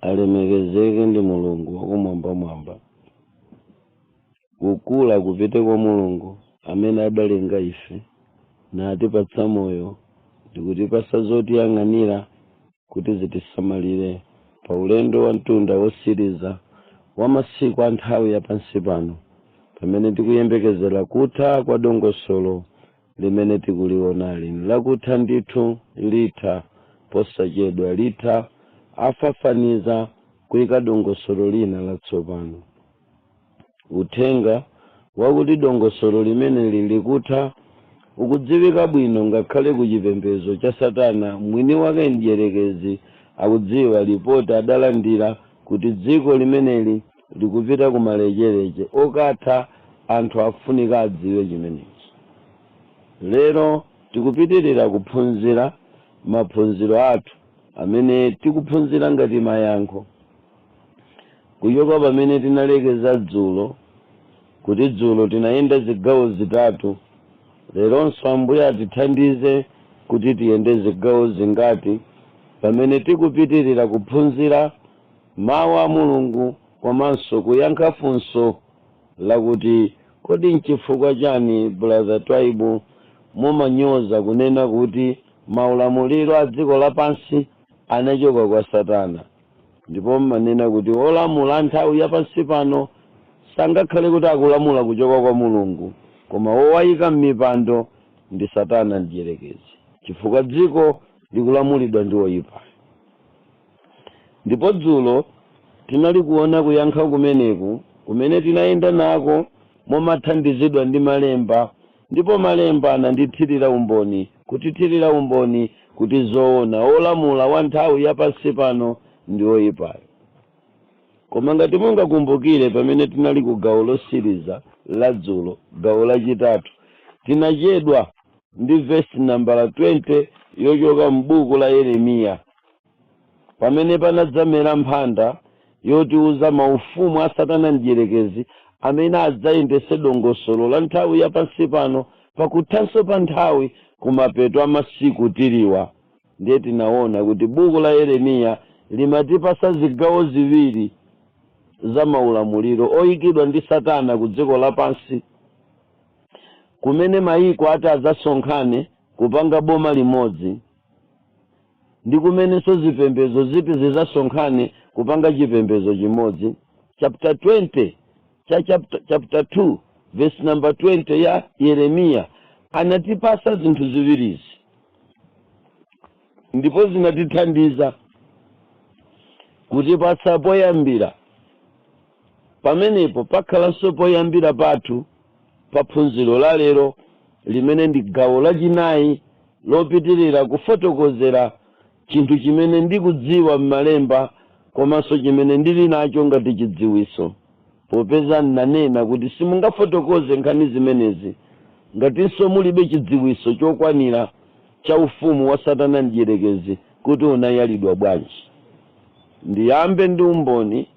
alemekezeke ndi mulungu wakumwambamwamba kukula kupite kwa mulungu amene adalenga ife natipatsa moyo ndikutipasa zotiyang'anira kuti zitisamalire pa ulendo wa mtunda wotsiriza wa masiku a nthawi ya pansi pano pamene tikuyembekezera kutha kwa dongosolo limene tikuliwonali nlakutha ndithu, litha posachedwa, litha, afafaniza, kuika dongosolo lina latsopano. Uthenga wakuti dongosolo limeneli likutha ukudziwika bwino ngakhale ku chipembedzo cha Satana mwiniwake Mdyerekezi akudziwa lipoti adalandira kuti dziko limeneli likupita ku malecheleche okatha anthu afunika adziwe chimenechi lero tikupitilira kuphunzira maphunziro athu amene tikuphunzira ngati mayankho kuchoka pamene tinalekeza dzulo kuti dzulo tinayenda zigawo zitatu leronso ambuye atithandize kuti tiyende zigawo zingati pamene tikupitilira kuphunzira Mawu a Mulungu komanso kuyankha funso lakuti Kodi n'chifukwa chani brother Twaibu mumanyoza kunena kuti maulamuliro a dziko lapansi anachoka kwa satana ndipo mmanena kuti olamula a nthawi ya pansi pano sangakhale kuti akulamula kuchoka kwa Mulungu koma wowayika mmipando ndi satana mdyerekezi chifukwa dziko likulamulidwa ndi woyipayo? Ndipo dzulo tinali kuona kuyankha kumeneku kumene tinayenda nako momathandizidwa ndi malemba ndipo malemba anandichitira umboni, kutichitira umboni kuti zoona wolamula wa nthawi ya pansi pano ndi woipayo. Koma ngati mungakumbukire pamene tinali ku gawo lotsiriza la dzulo, gawo lachitatu, tinachedwa ndi vesi nambala 20 yochoka m'buku la Yeremiya pamene panadzamera mphanda yotiuza maufumu a Satana Mdyerekezi amene adzayendetse dongosolo la nthawi ya pansi pano pakuthanso pa nthawi kumapeto a masiku tiliwa. Ndiye tinaona kuti buku la Yeremiya limatipatsa zigawo ziwiri za maulamuliro oikidwa ndi Satana ku dziko lapansi kumene mayiko ati adzasonkhane kupanga boma limodzi. ndi kumenenso zipembedzo ziti zidzasonkhane kupanga chipembedzo chimodzi. Chapter 20 cha chapter, chapter 2 verse number 20 ya Yeremiya anatipasa zinthu ziwirizi ndipo zinatithandiza kutipasa poyambira Pamenepo pakhalanso poyambira pathu pa phunziro la lero, limene ndi gawo lachinayi lopitirira kufotokozera chinthu chimene ndikudziwa m'malemba komanso chimene ndili nacho ngati chidziwitso. Popeza ndinanena kuti simungafotokoze nkhani zimenezi ngatinso mulibe chidziwitso chokwanira cha ufumu wa Satana Mdyerekezi kuti unayalidwa bwanji, ndiyambe ndi umboni.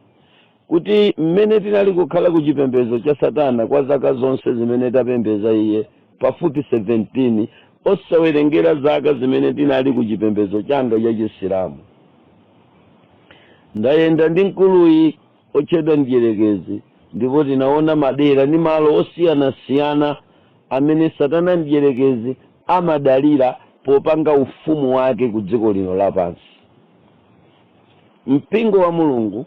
kuti mmene tinali kukhala ku chipembedzo cha Satana kwa zaka zonse zimene tapembedza iye, pafupi 17, osawerengera zaka zimene ndinali ku chipembedzo changa cha Chisilamu. Ndayenda ndi mkuluyi otchedwa Mdyerekezi ndipo tinaona madera ndi malo osiyanasiyana amene Satana Mdyerekezi amadalira popanga ufumu wake ku dziko lino lapansi. Mpingo wa Mulungu,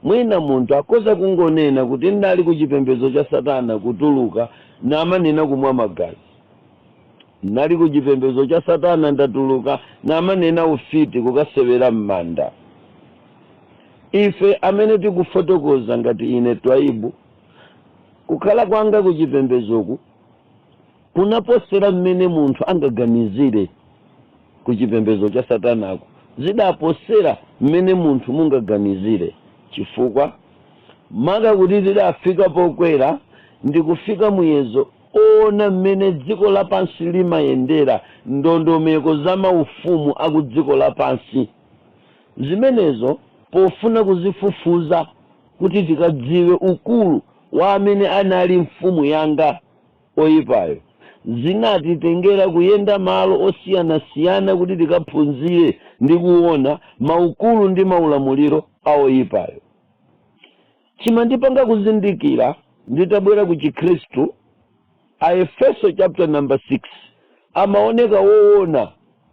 mwina munthu akhoza kungonena kuti ndinali ku chipembedzo cha Satana kutuluka namanena kumwa magazi. Ndinali ku chipembedzo cha Satana ndatuluka namanena ufiti kukasewera m'manda. Ife amene tikufotokoza ngati ine Twaibu, kukhala kwanga ku chipembedzoku, kunaposera mmene munthu angaganizire ku chipembedzo cha satanako zidaposera mmene munthu mungaganizire chifukwa maka kuti tidafika pokwera ndi kufika muyezo oona mmene dziko lapansi limayendera ndondomeko za maufumu aku dziko lapansi zimenezo pofuna kuzifufuza kuti tikadziwe ukulu wa amene anali mfumu yanga oyipayo. Zinatitengera kuyenda malo osiyanasiyana kuti tikaphunzire ndi kuona maukulu ndi maulamuliro a oyipayo. Chimandipanga kuzindikira nditabwera ku Chikhristu, Aefeso chapter number 6 amaoneka woona.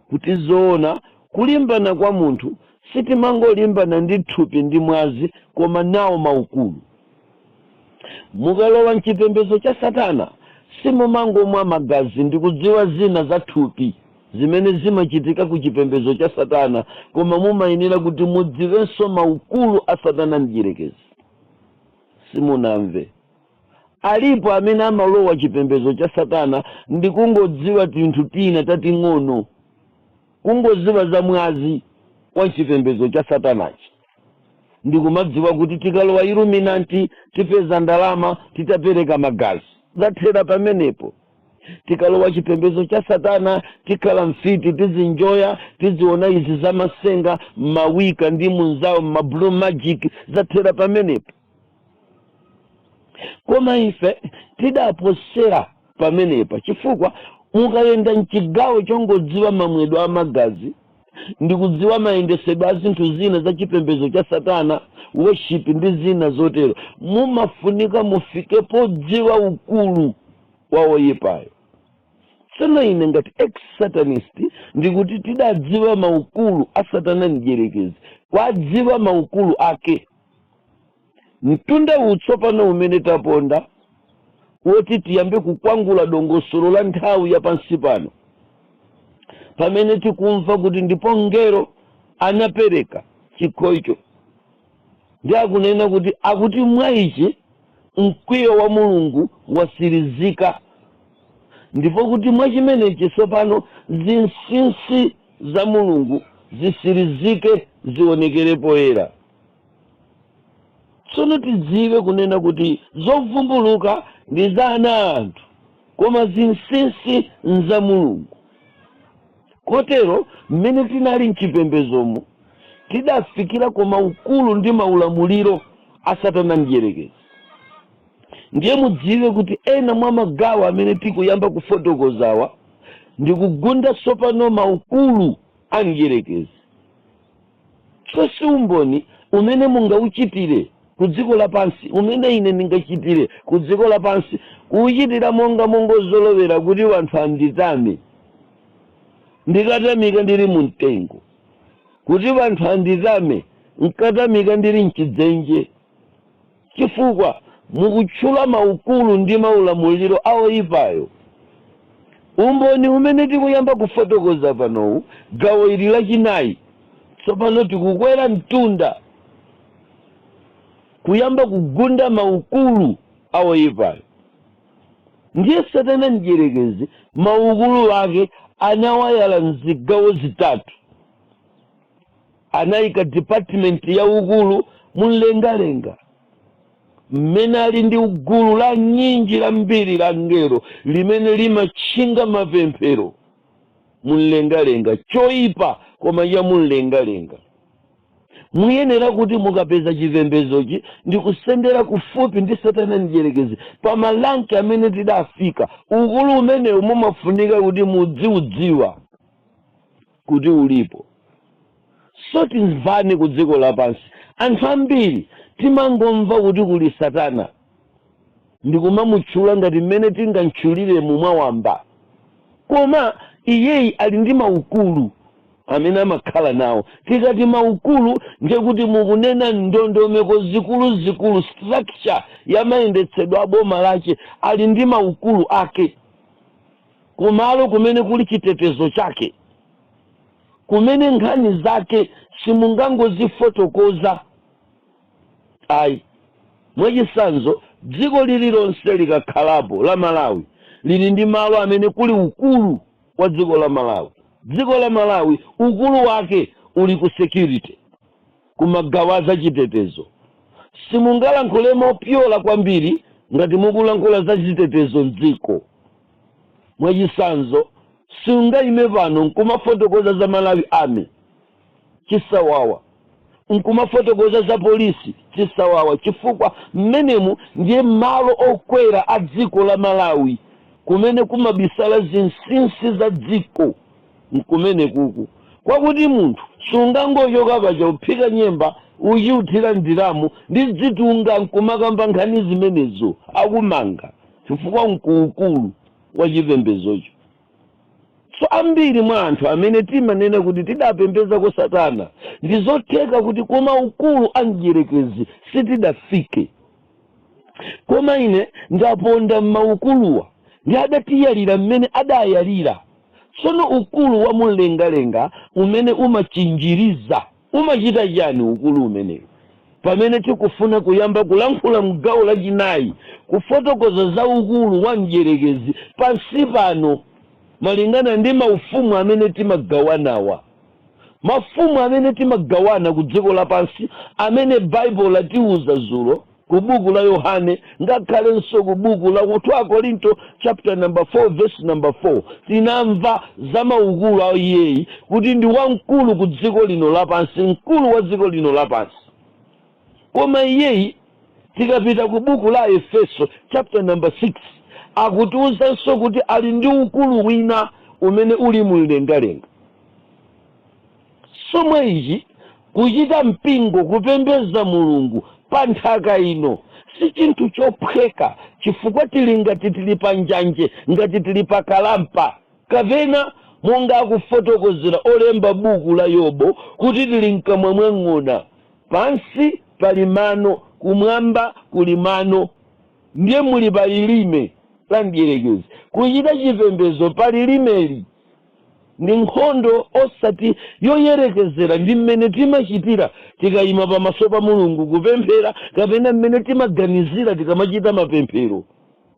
kuti zoona kulimbana kwa munthu sitimangolimbana ndi thupi ndi mwazi koma nawo maukulu. Mukalowa mchipembezo cha satana simumangomwa magazi ndikudziwa zina za thupi zimene zimachitika ku chipembezo cha satana koma mumayenera kuti mudziwenso maukulu a satana mdyerekezi. Simunamve. Alipo amene amalowa chipembedzo cha Satana ndi kungodziwa tinthu tina tating'ono, kungodziwa za mwazi wa chipembedzo cha Satanachi, ndi kumadziwa kuti tikalowa Illuminanti tipeza ndalama titapereka magazi. Zathera pamenepo. Tikalowa chipembedzo cha Satana tikhala mfiti, tizinjoya, tiziona izi za masenga, ma Wicca ndi munzawo, ma blue magic. Zathera pamenepo. koma ife tidaposera pamenepa chifukwa mukayenda mchigawo chongodziwa mamwedwe a magazi ndi kudziwa mayendesedwe a zinthu zina za chipembedzo cha satana worship ndi zina zotero mumafunika mufike podziwa ukulu wa woyipayo tsono ine ngati ex satanist ndikuti tidadziwa maukulu a satana mdyerekezi kwadziwa maukulu ake Mtunda uwu tsopano umene taponda woti tiyambe kukwangula dongosolo la nthawi ya pansi pano, pamene tikumva kuti ndipo mngelo anapereka chikho icho, ndi akunena kuti akuti mwa ichi mkwiyo wa Mulungu wasirizika, ndipo kuti mwa chimenechi tsopano zinsinsi za Mulungu zisirizike zionekere poyera. tsono tidziwe kunena kuti zovumbuluka ndi za ana a anthu koma zinsinsi nza mulungu kotero mmene tinali mchipembedzomu tidafikira ku maukulu ndi maulamuliro a satana mdyerekezi ndiye mudziwe kuti ena mwa magawo amene tikuyamba kufotokozawa ndikugunda tsopano maukulu a mdyerekezi chonse, umboni umene mungawuchitire ku dziko lapansi, umene ine ndingachitire ku dziko lapansi, kuwuchitira monga mongazolowera kuti anthu anditame, ndikatamika ndiri mu mtengo, kuti anthu anditame, nkatamika ndiri m'chidzenje. Chifukwa mukutchula maukulu ndi maulamuliro a woipayo. Umboni umene tikuyamba kufotokoza panowu, gawo ili lachinayi, tsopano tikukwera mtunda kuyamba kugunda maukulu a woipayo. Ndiye Satana Mdyerekezi maukulu ake anawayala m'zigawo zitatu. Anaika dipatimenti ya ukulu mumlengalenga, mmene ali ndi gulu la nyinji lambiri la angelo limene limatchinga mapemphero mumlengalenga, choipa koma cha mumlengalenga. Muyenera kuti mukapeza chipembedzochi ndi kusendera kufupi ndi Satana Mdyerekezi pa maranki amene tidafika. Ukulu umenewu mumafunika kuti mudziudziwa. kuti ulipo so timvane ku dziko lapansi anthu ambiri timangomva kuti kuli satana ndikumamutchula ngati mmene tingamtchulire mwawamba koma iyeyi ali ndi maukulu amene amakhala nawo tikati maukulu ndiye kuti mukunena ndondomeko zikuluzikulu structure ya mayendetsedwe a boma lace ali ndi maukulu ake kumalo kumene kuli chitetezo chake, kumene nkhani zake simungangozifotokoza ayi. Mwachitsanzo, dziko lililonse likakhalapo, la Malawi, lili ndi malo amene kuli ukulu wa dziko la Malawi. Dziko la Malawi ukulu wake uli ku security. Ku magawo a zachitetezo, simungalankhule mopyola kwambiri ngati mukulankhula za chitetezo m'dziko. Mwachitsanzo, siungaime pano n'kumafotokoza za Malawi Army, chisawawa, n'kumafotokoza za polisi, chisawawa, chifukwa mmenemu ndiye malo okwera a dziko la Malawi kumene kumabisala zinsinsi za dziko. Nkumenekuku kwakuti munthu sungangochoka paja kuphika nyemba, ukuthira m'diramu ndi zidunga nkumakamba nkhani zimenezo akumanga chifukwa nkuukulu wa chipembedzocho. So ambiri mwa anthu amene timanena kuti tidapembezako satana ndizotheka kuti kumaukulu a mdyerekezi sitidafike. Koma ine ndaponda m'maukuluwa, ndiye adatiyalira m'mene adayalira. Tsono ukulu wa mumlengalenga umene umachinjiriza umachita chiyani ukulu umenewu? Pamene tikufuna kuyamba kulankhula m'gawo lachinayi, kufotokoza za ukulu wa mdyerekezi pansi pano, malingana ndi maufumu amene timagawanawa, Maufumu amene timagawana ku dziko lapansi amene Baibulo latiuza zulo ku buku la Yohane ngakhalenso ku buku la 2 Akorinto chapter number 4 verse number 4 tinamva za maukulu a iyeyi kuti ndi wamkulu ku dziko lino lapansi, mkulu wa dziko lino lapansi. Koma iyeyi tikapita ku buku la Efeso chapter number 6 akutiuzanso kuti ali ndi ukulu wina umene uli mumlengalenga. Chomwe ichi, kuchita mpingo, kupembeza Mulungu pa nthaka ino, si chinthu chophweka, chifukwa tili ngati tili pa njanji, ngati tili pa kalampa, kapena monga akufotokozera olemba buku la Yobu, kuti tili mkamwa mwa ng'ona. Pansi pali mano, kumwamba kuli mano, ndiye muli pa lilime la mdierekezi. Kuchita chipembezo pa lilimeli Ndi nkhondo osati yoyerekezera ndi mmene timachitira tikaima pamaso pa Mulungu kupemphera kapena mmene timaganizira tikamachita mapemphero.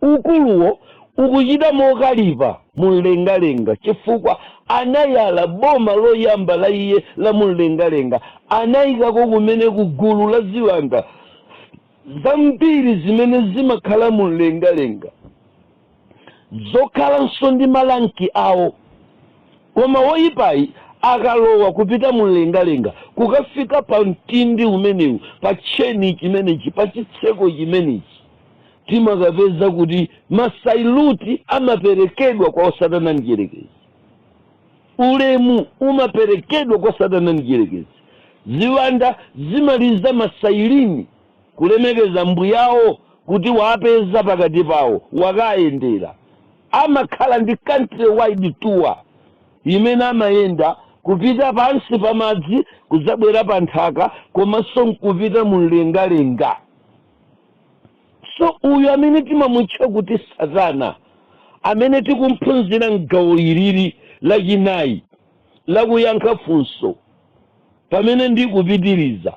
Mkuluyo ukuchita mokalipa mumlengalenga chifukwa anayala boma loyamba la iye la mumlengalenga, anaikako kumeneku gulu la ziwanda zambiri zimene zimakhala mumlengalenga. zokhalanso ndi maranki awo. Koma woipayi akalowa kupita mumlengalenga, kukafika pa mtindi umenewu, pa tcheni chimenechi, pa chitseko chimenechi, timakapeza kuti masailuti amaperekedwa kwa Satana Mdyerekezi. Ulemu umaperekedwa kwa Satana Mdyerekezi. Ziwanda zimaliza masailini kulemekeza mbuyawo kuti waapeza pakati pawo wakaayendera. Amakhala ndi country wide tour imene amayenda kupita pansi pa madzi kudzabwera pa nthaka komanso nkupita mu mlengalenga. So uyu amene timamutcha kuti satana amene tikumphunzira m'gawo ilili lachinayi lakuyankha funso pamene ndikupitiriza.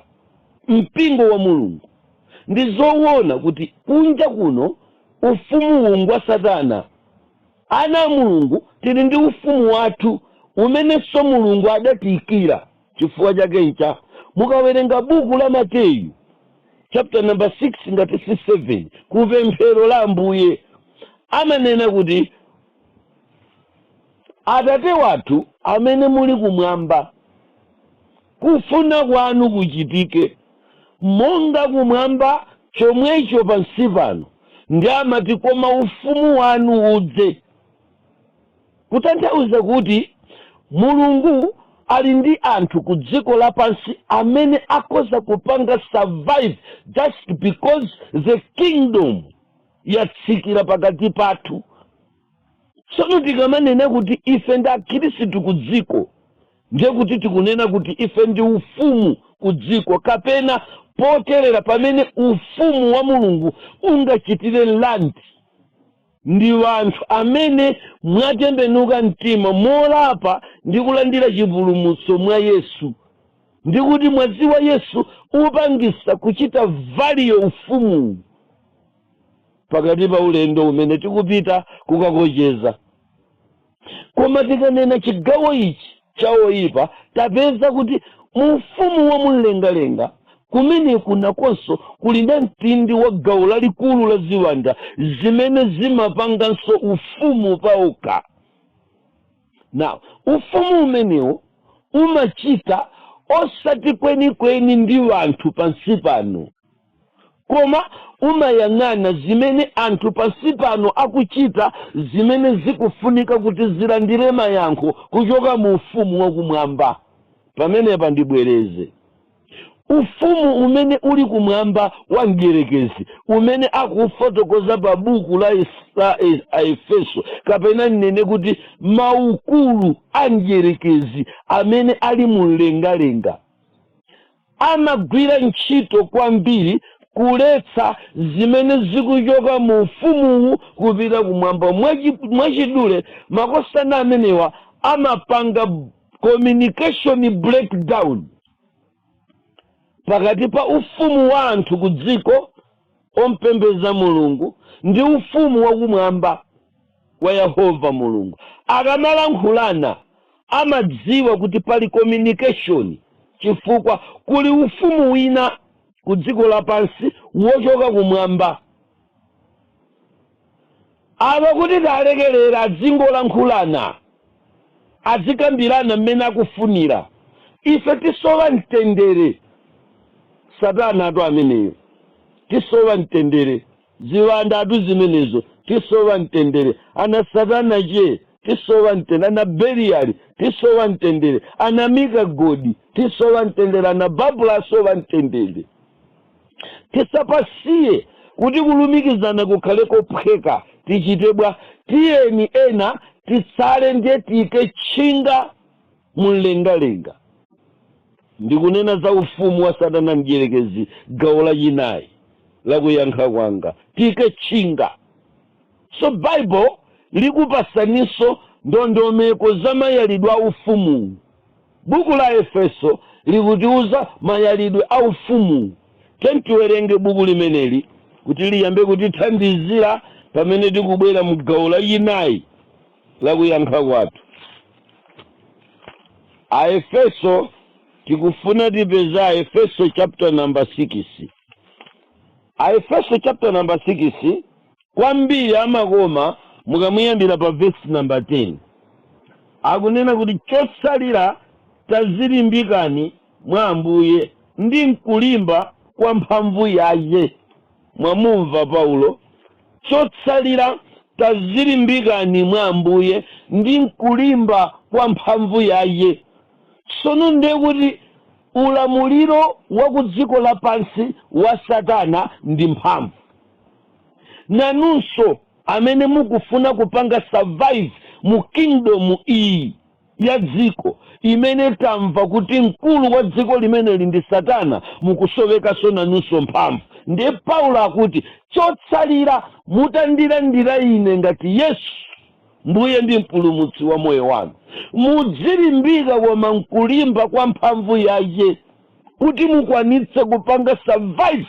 Mpingo wa Mulungu. Ndi zowona kuti kunja kuno ufumuwu ngwa Satana. Ana a Mulungu tiri ndi ufumu wathu umenenso Mulungu adatiikira. Chifukwa chake ncha, mukawerenga buku la Mateyu, chapter number 6 ngati si 7, ku pemphero la Ambuye, amanena kuti, Atate wathu amene muli kumwamba. Kufuna kwanu kuchitike, monga kumwamba chomwecho pansi pano, ndiye amati, koma ufumu wanu udze. Kutanthauza kuti Mulungu ali ndi anthu ku dziko lapansi amene akhoza kupanga survive just because the kingdom yatsikira pakati pathu. Tsono tikamanena kuti ife ndi akhirisitu ku dziko, ndiye kuti tikunena kuti ife ndi ufumu ku dziko kapena potelera pamene ufumu wa Mulungu ungachitire mlandu ndi anthu amene mwatembenuka mtima molapa ndi kulandira chipulumutso mwa Yesu ndi kuti mwazi wa Yesu upangisa kuchita valio ufumuwu. pakati pa ulendo umene tikupita kukakocheza koma tikanena chigawo ichi cha oyipa tapeza kuti mu ufumu wa mumlengalenga kumene kunakonso kuli namtindi wa gawo lalikulu la ziwanda zimene zimapanganso ufumu paokha now ufumu umenewu umachita osati kwenikweni ndi wanthu pansi pano Koma umayang'ana zimene anthu pansi pano akuchita zimene zikufunika kuti zilandire mayankho kuchoka mu Ufumu wa Kumwamba. Pamenepa ndibwereze. Ufumu umene uli kumwamba wa Mdyerekezi, umene akufotokoza pa buku la Aefeso, kapena ndinene kuti maukulu a Mdyerekezi amene ali mu mlengalenga, amagwira ntchito kwambiri kuletsa zimene zikuchoka mu Ufumuwu kupita kumwamba. Mwachidule, makosana amenewa amapanga communication breakdown pakati pa ufumu wa anthu ku dziko ompembeza Mulungu ndi ufumu wakumwamba. wa Yehova Mulungu. Akamalankhulana amadziwa kuti pali communication chifukwa kuli ufumu wina ku dziko lapansi wochoka kumwamba. Apa kuti talekelera adzingolankhulana, adzikambirana mmene akufunira. Ife tisowa mtendere. Satanatu ameneyo. Tisowa mtendere. Ziwandatu zimenezo tisowa mtendere. Ana satana che tisowa mtende. Ana Beliyali tisowa mtendere. Ana Mika godi tisowa mtendere. Ana Babulo asowa mtendere. Tisapasiye kuti kulumikizana kukhale kophweka. Tichite bwa? Tiyeni ena atsale ndiye tiike tchinga mumlengalenga. Ndikunena za ufumu wa Satana Mdyerekezi, gawo lachinayi la kuyankha kwanga. Tiike chinga. So Bible likupasaninso ndondomeko za mayalidwe a ufumuwu. Buku la Aefeso likutiuza mayalidwe a ufumuwu. Tiyeni tiwerenge buku limeneli kuti liyambe kutithandizira pamene tikubwera mu gawo lachinayi. lakuyankha kwathu. Aefeso tikufuna tipeze Aefeso chapter number 6. Aefeso chapter number 6 kwambiri amakoma mukamuyambira pa verse number 10. Akunena kuti chotsalira tazilimbikani mwa Ambuye ndi mkulimba kwa mphamvu yaye. Mwamumva Paulo Chotsalira, tazilimbikani mwa Ambuye, ndi m'kulimba kwa mphamvu yaye. Tsono ndiye kuti ulamuliro wa ku dziko lapansi wa Satana ndi mphamvu. Nanunso amene mukufuna kupanga survive mu kingdom iyi. ya dziko imene tamva kuti mkulu wa dziko limeneli ndi satana mukusowekanso nanunso mphamvu ndiye paulo akuti chotsalira mutandilandira ine ngati yesu mbuye ndi mpulumutsi wa moyo wanu mudzilimbika koma mkulimba kwa mphamvu yaye kuti mukwanitse kupanga survive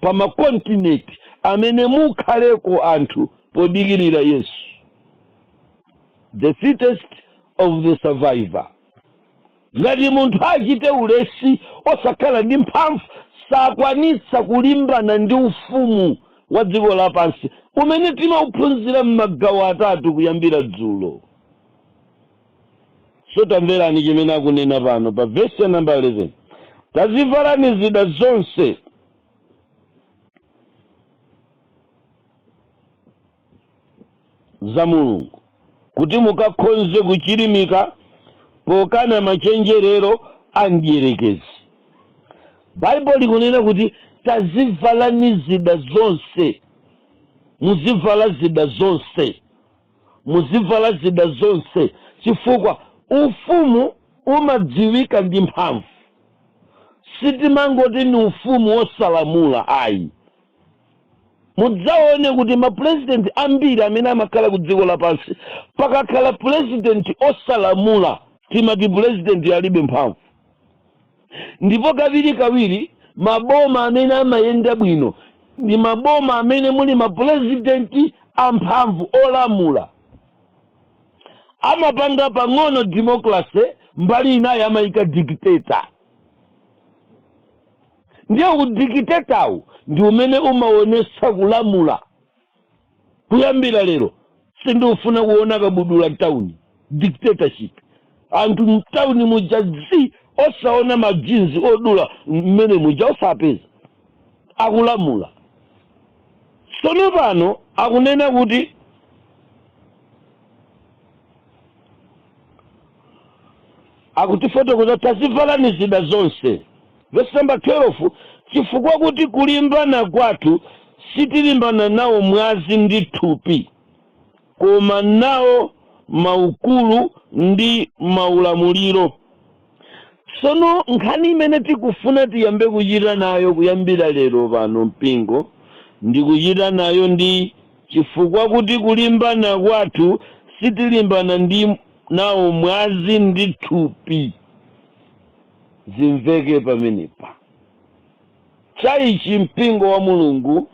pa makontinenti amene mukhaleko anthu podikirira yesu the fittest of the survivor ngati munthu achite ulesi osakhala ndi mphamvu sakwanitsa kulimbana ndi ufumu wa dziko lapansi umene tinauphunzira m'magawo atatu kuyambira dzulo So tamverani chimene akunena pano pa vesi ya namba 11 tazivalani zida zonse za mulungu kuti mukakhonze kuchirimika pokana machenjerero a mdyerekezi baibulo likunena kuti tazivalani zida zonse muzivala zida zonse Muzivala zida zonse chifukwa ufumu umadziwika ndi mphamvu. Sitimangoti ni ufumu wosalamula ayi. Mudzaone kuti mapulezidenti ambiri amene amakhala kudziko lapansi, pakakhala pulezidenti osalamula timati pulezidentiyo alibe mphamvu. Ndipo kawirikawiri maboma amene amayenda bwino ndi maboma amene muli mapulezidenti amphamvu, olamula. Amapanga pang'ono democracy, mbali inayo amaika dictator. Ndiye udikitetawu ndi umene umaonetsa kulamula kuyambira lero sindikufuna kuona kabudula mtauni dictatorship anthu mtauni muja zii osaona majinzi odula mmene muja osapeza akulamula sono pano akunena kuti akutifotokozera tavalani zida zonse vesi namba 12 chifukwa kuti kulimbana kwathu sitilimbana nawo mwazi ndi thupi koma nawo maukulu ndi maulamuliro sono nkhani imene tikufuna tiyambe kuchita nayo kuyambira lero pano mpingo ndi kuchita nayo ndi chifukwa kuti kulimbana kwathu sitilimbana ndi nawo mwazi ndi thupi zimveke pamenepa chaichi mpingo wa mulungu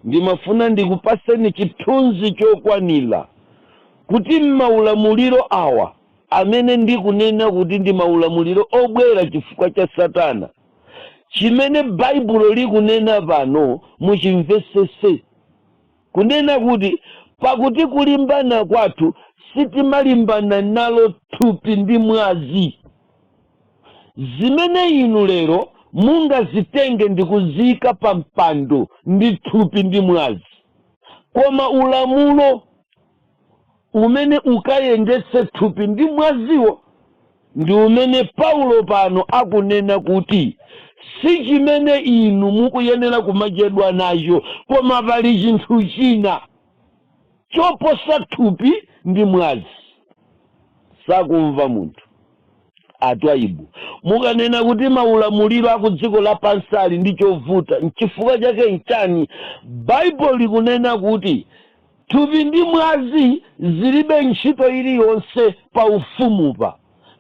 ndimafuna ndikupaseni chithunzi chokwanira kuti maulamuliro awa amene ndikunena kuti ndi maulamuliro obwera chifukwa cha satana chimene baibulo likunena pano muchimvesese Kunena kuti, Pakuti kulimbana kwathu sitimalimbana nalo thupi ndi mwazi, zimene inu lero mungazitenge ndi kuziika pa mpando, ndi thupi ndi mwazi, koma ulamulo. umene ukayendetse thupi ndi mwaziwo, ndi umene Paulo pano akunena kuti si chimene inu mukuyenera kumachedwa nacho, koma pali chinthu china choposa thupi ndi mwazi. Sakumva munthu atwayiwu mukanena kuti maulamuliro a ku dziko lapansi ali ndi chovuta, nchifukwa chake nchani Baibulo likunena kuti Thupi ndi mwazi zilibe ntchito iliyonse pa Ufumupa,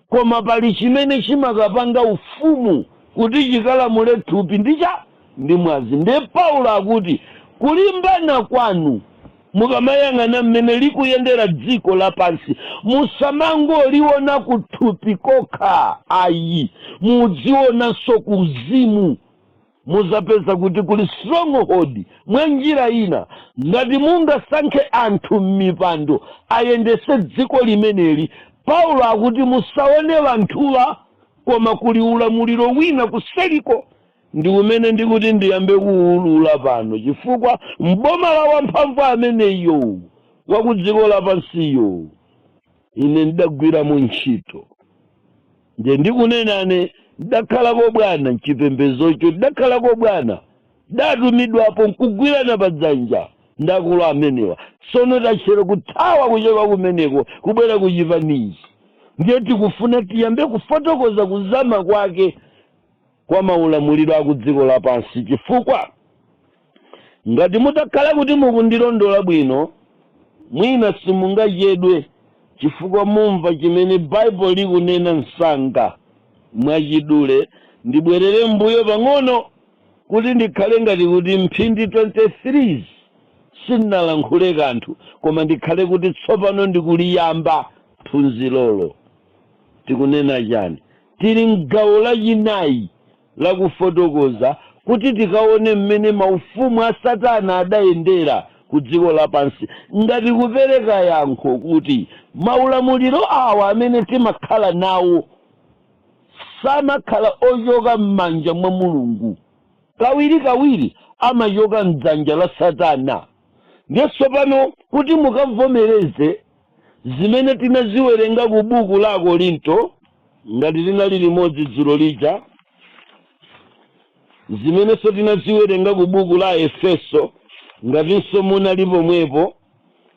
koma pali chimene chimakapanga Ufumu kuti chikalamule thupi ndi cha ndi mwazi. Ndiye Paulo akuti kulimbana kwanu, mukamayang'ana mmene likuyendera dziko lapansi, musamangoliona kuthupi kokha ayi, mudzionanso kuuzimu. Muzapeza kuti kuli stronghold mwanjira ina ngati mungasankhe anthu mmipando ayendese dziko limeneli Paulo akuti musaone anthuwa koma kuli ulamuliro wina kuseliko ndi umene ndikuti ndiyambe kuulula pano chifukwa mboma la wamphamvu ameneyo wakudziko lapansiyo Ine ndagwiramo ntchito. Ndiye ndikunenane, ndakhalako bwana m'chipembedzocho, ndidakhalako bwana. Ndatumidwapo nkugwirana pa dzanja ndi akulu amenewa. Tsono tachera kuthawa kuchoka kumeneko kubwera ku chipani ichi. Ndiye tikufuna tiyambe kufotokoza kuzama kwake. kwa maulamuliro a kudziko lapansi, chifukwa, ngati mutakhala kuti mukundilondola bwino, mwina simungachedwe, chifukwa mumva chimene Baibulo likunena msanga. Mwachidule, ndibwerere mmbuyo pang'ono, kuti ndikhale ngati kuti mphindi 23 sindinalankhule kanthu, koma ndikhale kuti tsopano ndikuliyamba phunzirolo. Tikunena chani? Tili m'gawo lachinayi la kufotokoza kuti tikaone mmene maufumu a Satana adayendera ku dziko lapansi ngati kupereka yankho kuti maulamuliro awa amene timakhala nawo samakhala ochoka m'manja mwa Mulungu. Kawirikawiri amachoka m'dzanja la Satana. Ndiye tsopano kuti mukamvomereze. zimene tinaziwerenga ku buku la akorinto ngati tinali limodzi dzulo lija zimenenso tinaziwerenga ku buku la aefeso ngatinso munali pomwepo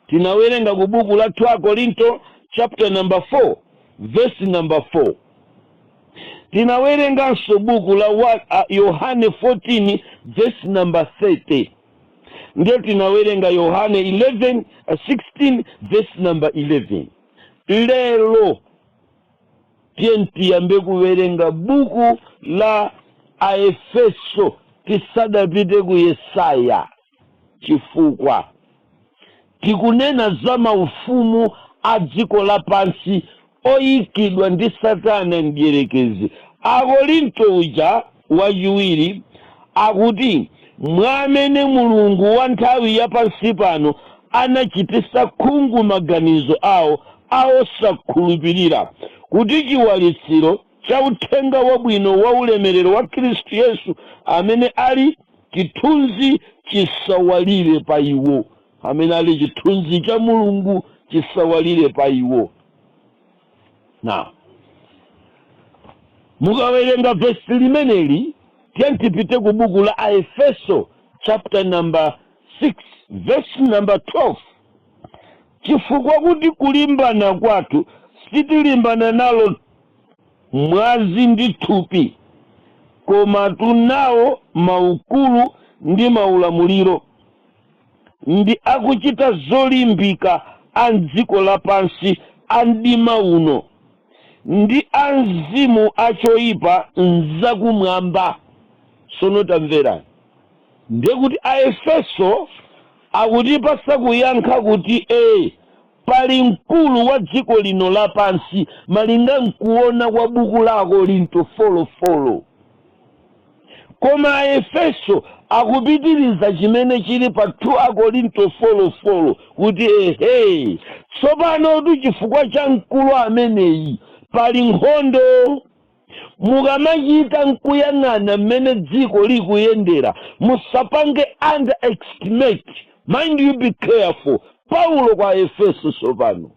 tinawerenga ku buku la 2 akorinto chapter number 4 verse number 4 tinawerenganso buku la wa- a- yohane 14 verse number 30 ndiye tinawerenga yohane 11 uh, 16 verse number 11 lero ndiye tiyambe kuwerenga buku la aefeso tisadapite ku yesaya chifukwa tikunena za maufumu a dziko lapansi oikidwa ndi Satana Mdyerekezi. Akorinto uja wachiwiri akuti, Mwa amene mulungu wa nthawi ya pansi pano anachititsa khungu maganizo awo a osakhulupirira, kuti chiwalitsiro cha Uthenga Wabwino wa ulemerero wa Khristu Yesu, amene ali chithunzi chisawalire pa iwo. amene ali chithunzi cha mulungu chisawalire pa iwo now mukawerenga vesi limeneli tiyeni tipite ku buku la aefeso chapter number 6 verse number 12 chifukwa kuti kulimbana kwathu sitilimbana nalo mwazi ndi thupi koma tunawo maukulu ndi maulamuliro ndi akuchita zolimbika a m'dziko lapansi a mdima uno, ndi a mzimu a choipa m'zakumwamba. Sono tamverani, ndiye kuti Aefeso akutipasa kuyankha kuti e, pali mkulu wa dziko lino lapansi malinga nkuona kwa buku la Akorinto 4:4. Koma Aefeso akupitiriza chimene chili pa 2 Akorinto 4:4 kuti, Ehe, tsopanotu chifukwa cha mkulu ameneyi pali nkhondo. Mukamachita n'kuyang'ana mmene dziko likuyendera, musapange underestimate, mind you be careful, Paulo kwa Aefeso tsopano.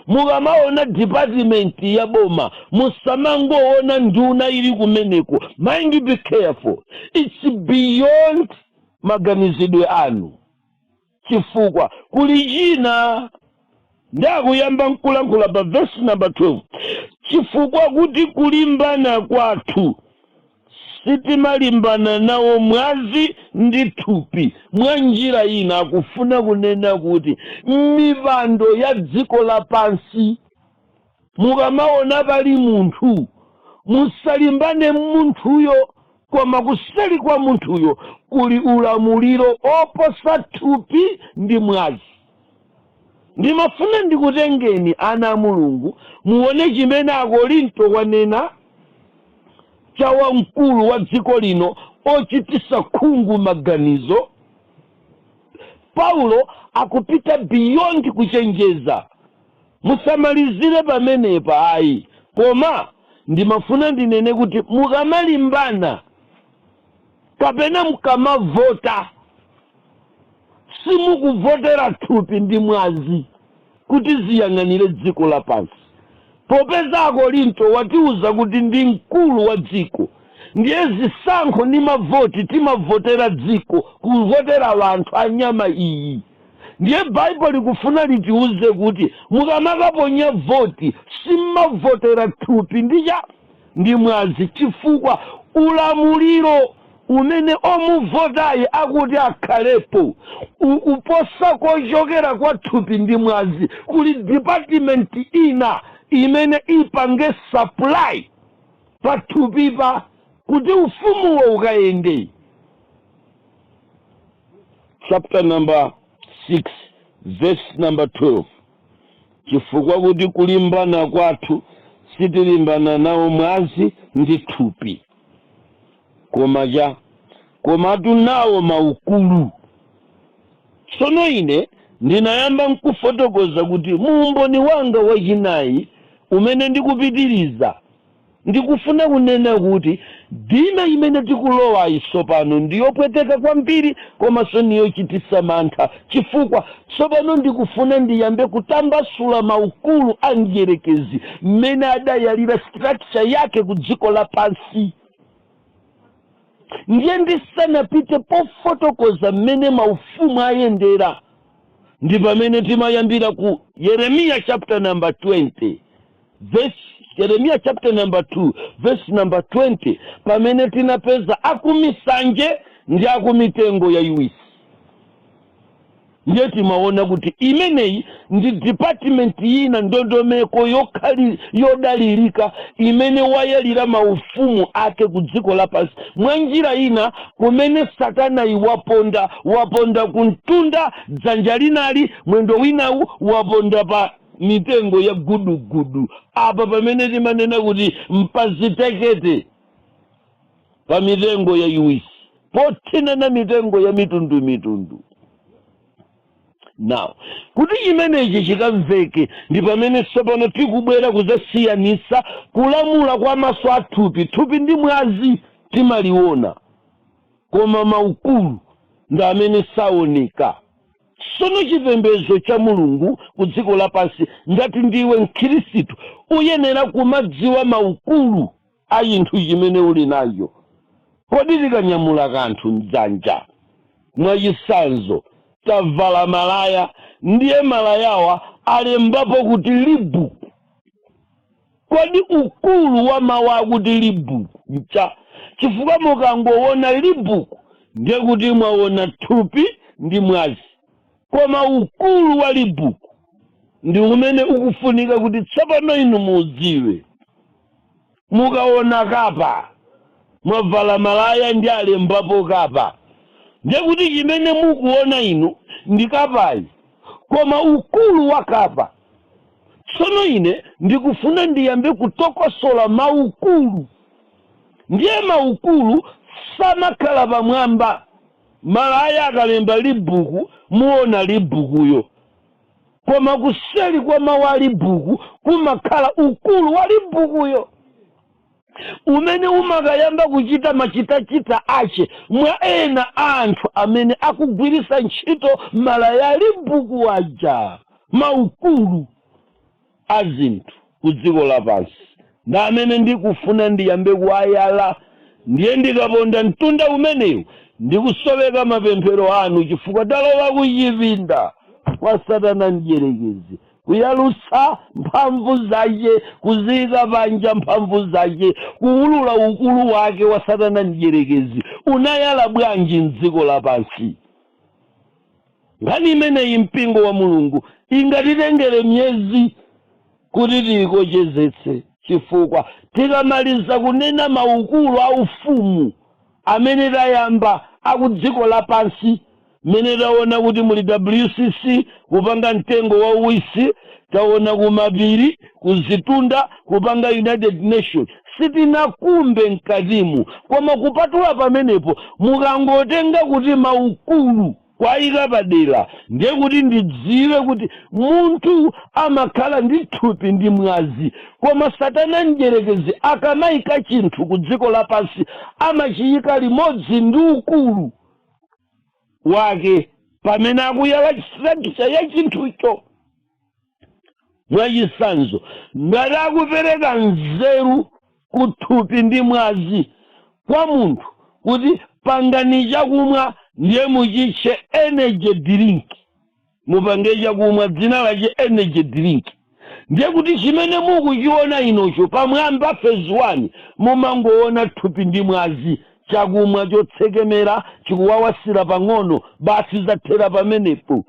mukamaona department ya boma musamangoona nduna ili kumeneko mind you be careful its beyond maganizidwe anu chifukwa kuli china ndiye akuyamba nkulankhula pa verse number 12 chifukwa kuti kulimbana kwathu Sitimalimbana nawo mwazi ndi thupi, mwanjira ina akufuna kunena kuti, mmipando ya dziko lapansi. Mukamawona pali munthu, musalimbane ndi munthuyo, koma kuseri kwa munthuyo kuli ulamuliro oposa thupi ndi mwazi. Ndimafuna ndikutengeni ana a Mulungu muone chimene Akorinto wanena cha wamkulu wa dziko lino ochitisa khungu maganizo. Paulo akupita beyond kuchenjeza. Musamalizire pamenepa ayi koma ndimafuna ndinene kuti mukamalimbana. Kapena mkamavota simukuvotera thupi ndi mwazi kuti ziyang'anire dziko lapansi? Popeza Akorinto watiuza kuti ndi mkulu wa dziko ndiye zisankho ndi mavoti timavotera dziko kuvotera anthu a nyama iyi ndiye Bible likufuna litiuze kuti mukamakaponya voti simmavotera thupi ndi cha ndi mwazi chifukwa ulamuliro umene omuvotayi akuti akhalepo ukuposa kochokera kwa thupi ndi mwazi kuli department ina imene ipange supply pathupipa kuti ufumuwo ukayende chapter number 6 verse number 12 Chifukwa kuti kulimbana kwathu sitilimbana nawo mwazi ndi thupi, koma cha komatu nawo maukulu. Tsono ine ndinayamba n'kufotokoza kuti mu umboni wanga wachinayi umene ndikupitiriza, Ndikufuna kunena kuti ndime imene tikulowayi tsopano ndi yopweteka kwambiri komaso ni yochitisa mantha chifukwa tsopano ndikufuna ndiyambe kutambasula maukulu a mdyerekezi mmene adayalira structure yake ku dziko lapansi ndiye ndisanapite pofotokoza mmene maufumu ayendera ndi pamene timayambira ku Yeremiya chapter number 20 Vesi, Yeremiya chapter number 2 vesi number 20 pamene tinapeza akumisanje ndi akumitengo yayiwisi ndiye timaona kuti imeneyi ndi department yina ndondomeko yokhayi yodalirika imene wayalira maufumu ake ku dziko lapansi mwa njira ina kumene satanayi waponda waponda kumtunda dzanja linali mwendo winawu waponda pa mitengo ya gudugudu apa pamene timanena kuti mpazitekete pa mitengo yaiwisi pothinana mitengo ya mitundu mitundu now kuti chimenechi chikamveke ndi pamene tsopano tikubwera kuzasiyanisa kulamula kwa maso a thupi thupi ndi mwazi timaliona koma maukulu ndi amene saoneka Sono chipembezo cha Mulungu ku dziko lapansi, ngati ndiwe mkhirisitu, uyenera kumadziwa maukulu a chinthu chimene uli nacho. Kodi tikanyamula kanthu mdzanja, mwachisanzo, tavala malaya, ndiye malayawa alembapo kuti Libu. Kodi ukulu wa mawu akuti Reebok ncha? Chifukwa mukangowona Reebok ndiye kuti mwawona thupi ndi mwazi. Koma ukulu wa Reebok ndi umene ukufunika kuti tsopano inu muudziwe. Mukawona Kappa, mwavala malaya ndi alembapo Kappa, ndiye kuti chimene mukuwona inu ndi Kappayo. Koma ukulu wa Kappa. Tsono ine ndikufuna ndiyambe kutokosola maukulu. Ndiye maukulu samakhala pamwamba. Malaya akalemba libuku muona libukuyo. Koma kuseli kwa mawu a libuku kumakhala ukulu wa libukuyo. umene umakayamba kuchita machitachita ache mwa ena a anthu amene akugwiritsa ntchito malaya alibuku aja maukulu a zinthu ku dziko lapansi ndi amene ndikufuna ndiyambe kuwayala ndiye ndikaponda mtunda umenewu ndikusoweka mapemphero anu chifukwa talowa kuchipinda kwa satana mdyerekezi Kuyalutsa mphamvu zache, kuziika panja mphamvu zache, kuulula ukulu wake wa Satana Mdyerekezi. Unayala bwanji m'dziko lapansi? Nkhani imeneyi, mpingo wa Mulungu, ingatitengere miyezi kuti tiikochezetse, chifukwa tikamaliza kunena maukulu a Ufumu amene tayamba a ku dziko lapansi, Mmene taona kuti muli WCC kupanga mtengo wauwisi, taona kumapiri, kuzitunda kupanga United Nations sitinakumbe mkatimu koma kupatula pamenepo mukangotenga kuti maukulu kuwaika padera ndiye kuti ndidziwe kuti munthu amakhala ndi thupi ndi mwazi koma satana mdyerekezi akamaika chinthu ku dziko lapansi amachiyika limodzi ndi ukulu wake pamene akuyala structure ya chinthucho mwachitsanzo ngati akupereka nzeru ku thupi ndi mwazi kwa munthu kuti pangani chakumwa ndiye muchitche energy drink mupange chakumwa dzina lache energy drink ndiye kuti chimene mukuchiona inucho pamwamba phase 1 mumangoona thupi ndi mwazi chakumwa chotsekemera chikuwawasira pang'ono basi zathera pamenepo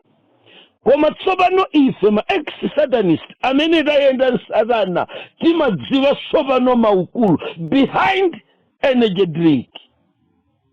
koma tsopano ife ma ex satanist amene tayenda mwa satana timadziwa tsopano maukulu behind energy drink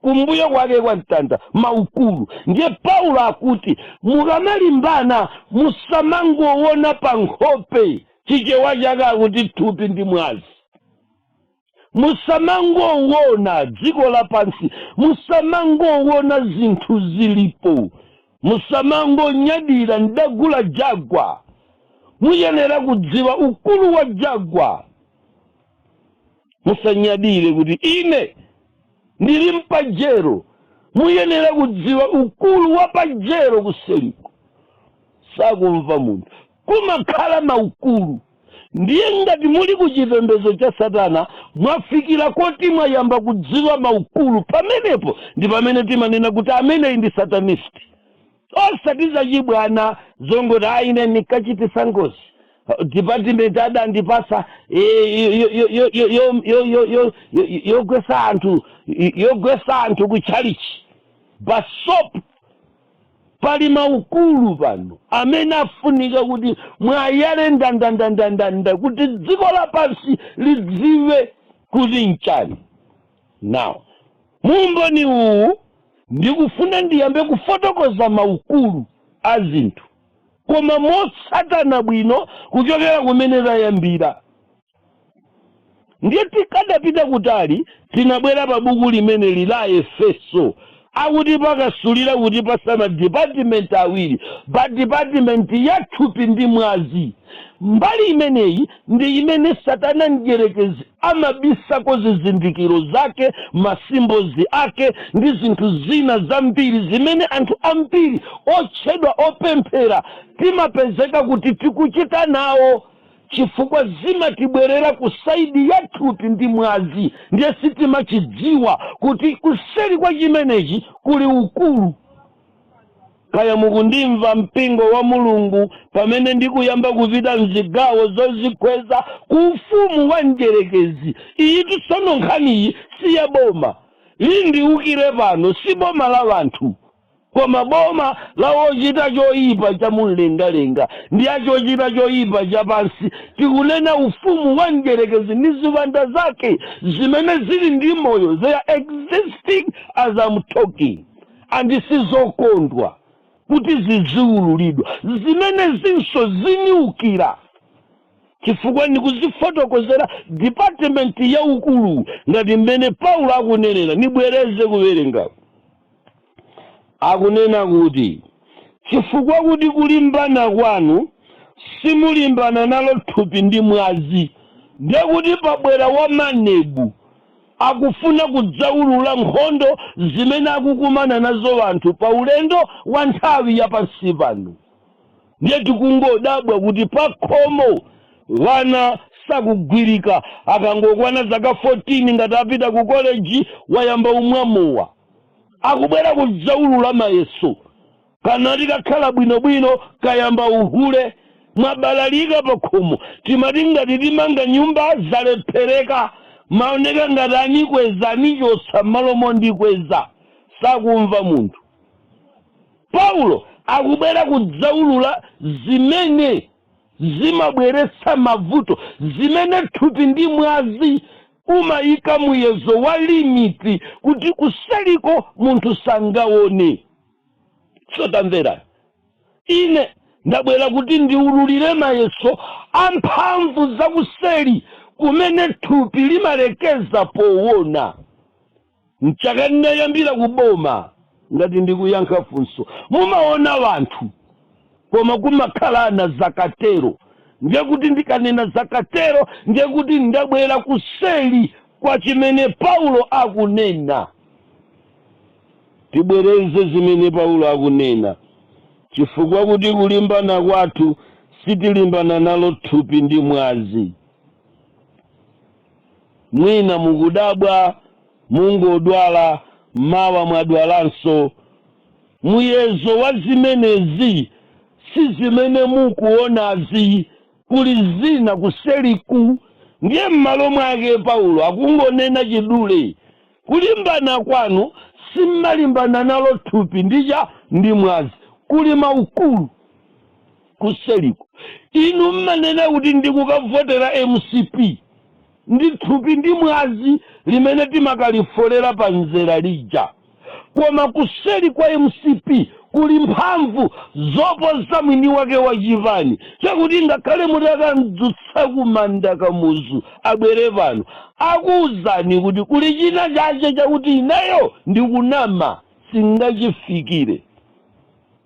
kumbuyo kwake kwa mtanda maukulu ndiye paulo akuti mukamalimbana musamangowona pa nkhope chichewa chake chakuti thupi ndi mwazi musamangowona dziko lapansi musamangowona zinthu zilipo musamangonyadira ndagula jagwa muyenera kudziwa ukulu wa jagwa musanyadire kuti ine Ndili mpajero. Muyenera kudziwa ukulu wa Pajero kuseriku. Sakumva munthu. Kumakhala maukulu. Ndiye ngati muli ku chipembezo cha satana mwafikira koti mwayamba kudziwa maukulu pamenepo ndi pamene timanena kuti ameneyi ndi satanist. osati zachibwana zongoti a ine ndinkachititsa ngozi department adandipatsa yogwetsa anthu yogwetsa anthu ku chalichi basi pali maukulu pano amene afunika kuti mwayale ndandandandandanda kuti dziko lapansi lidziwe kuti nchani Now, mu umboni uwu ndikufuna ndiyambe kufotokoza maukulu a zinthu koma motsatana bwino kuchokera kumene tayambira. Ndiye tikadapita kutali tinabwera pa buku limeneli la Aefeso. Akutimasulira kutipatsa ma department awiri pa department ya thupi ndi mwazi. Mbali imeneyi ndi imene satana mdyerekezi amabisako zizindikiro zake, masimbo ake, ndi zinthu zina zambiri zimene anthu ambiri otchedwa opemphera timapezeka kuti tikuchita nawo chifukwa zimatibwerera ku saidi ya thupi ndi mwazi ndiye sitimachidziwa kuti kuseri kwa chimenechi kuli ukulu Kaya mukundimva mpingo wa Mulungu pamene ndikuyamba kupita mzigawo zozikweza ku ufumu wa mdyerekezi. Iyitu tsono nkhaniyi si ya boma. Likundiwukira pano si boma la wanthu, koma boma la wochita choyipa cha mumlengalenga ndi ochita choyipa cha pansi, tikunena ufumu wa mdyerekezi ndi ziwanda zake zimene zili ndi moyo, they are existing as am talking. And sizokondwa kuti ziziululidwa zimenezi tsono zindiukira chifukwa ndikuzifotokozera department ya ukulu ngati mmene paulo akunenera ndibwereze kuwerenga akunena kuti chifukwa kuti kulimbana kwanu simulimbana nalo thupi ndi mwazi ndiye kuti pabwera wamanebu Akufuna kudzaulula nkhondo zimene akukumana nazo anthu pa ulendo wa nthawi ya pansi pano. Ndiye tikungodabwa kuti pakhomo wana sakugwirika akangokwana zaka 14 ngati apita ku college wayamba kumwa mowa. Akubwera kudzaulula mayeso. Kanati kakhala bwinobwino kayamba uhule. Mwabalalika pakhomo. Timati ngati timanga nyumba zalephereka. Maoneka ngati anikweza nichotsa mmalo mondikweza. Sakumva munthu. Paulo akubwera kudzaulula zimene zimabweretsa mavuto, zimene thupi ndi mwazi umayika muyezo wa limiti kuti kuseriko munthu sangaone. so tamverani ine ndabwera kuti ndiululire mayeso amphamvu zakuseli kumene thupi limalekezera powona mchaka ndinayambira kuboma ngati ndikuyankha funso mumaona wanthu koma kumakhala ana zakatero ndiye kuti ndikanena zakatero ndiye kuti ndabwera kuseli kwa chimene paulo akunena Tibwereze zimene Paulo akunena, Chifukwa kuti kulimbana kwathu sitilimbana nalo thupi ndi mwazi. Mwina mukudabwa, mungodwala, mawa mwadwalanso. Muyezo wa zimenezi si zimene mukuonazi. Kuli zina kuseliku. Ndiye m'malo mwake Paulo akungonena chidule Kulimbana kwanu sim'malimbana nalo thupi ndi ndi mwazi, kuli maukulu kuseliko. Inu m'manena kuti ndikukavotera mcp, ndi thupi ndi mwazi limene timakalifolera pa mzera lija, koma kuseli kwa mcp kuli mphamvu zoposa mwini wake wa chipani chakuti ngakhale mutakamdzutsa kumanda kamuzu abwere pano akuuzani kuti kuli china chache chakuti ineyo ndikunama sindingachifikire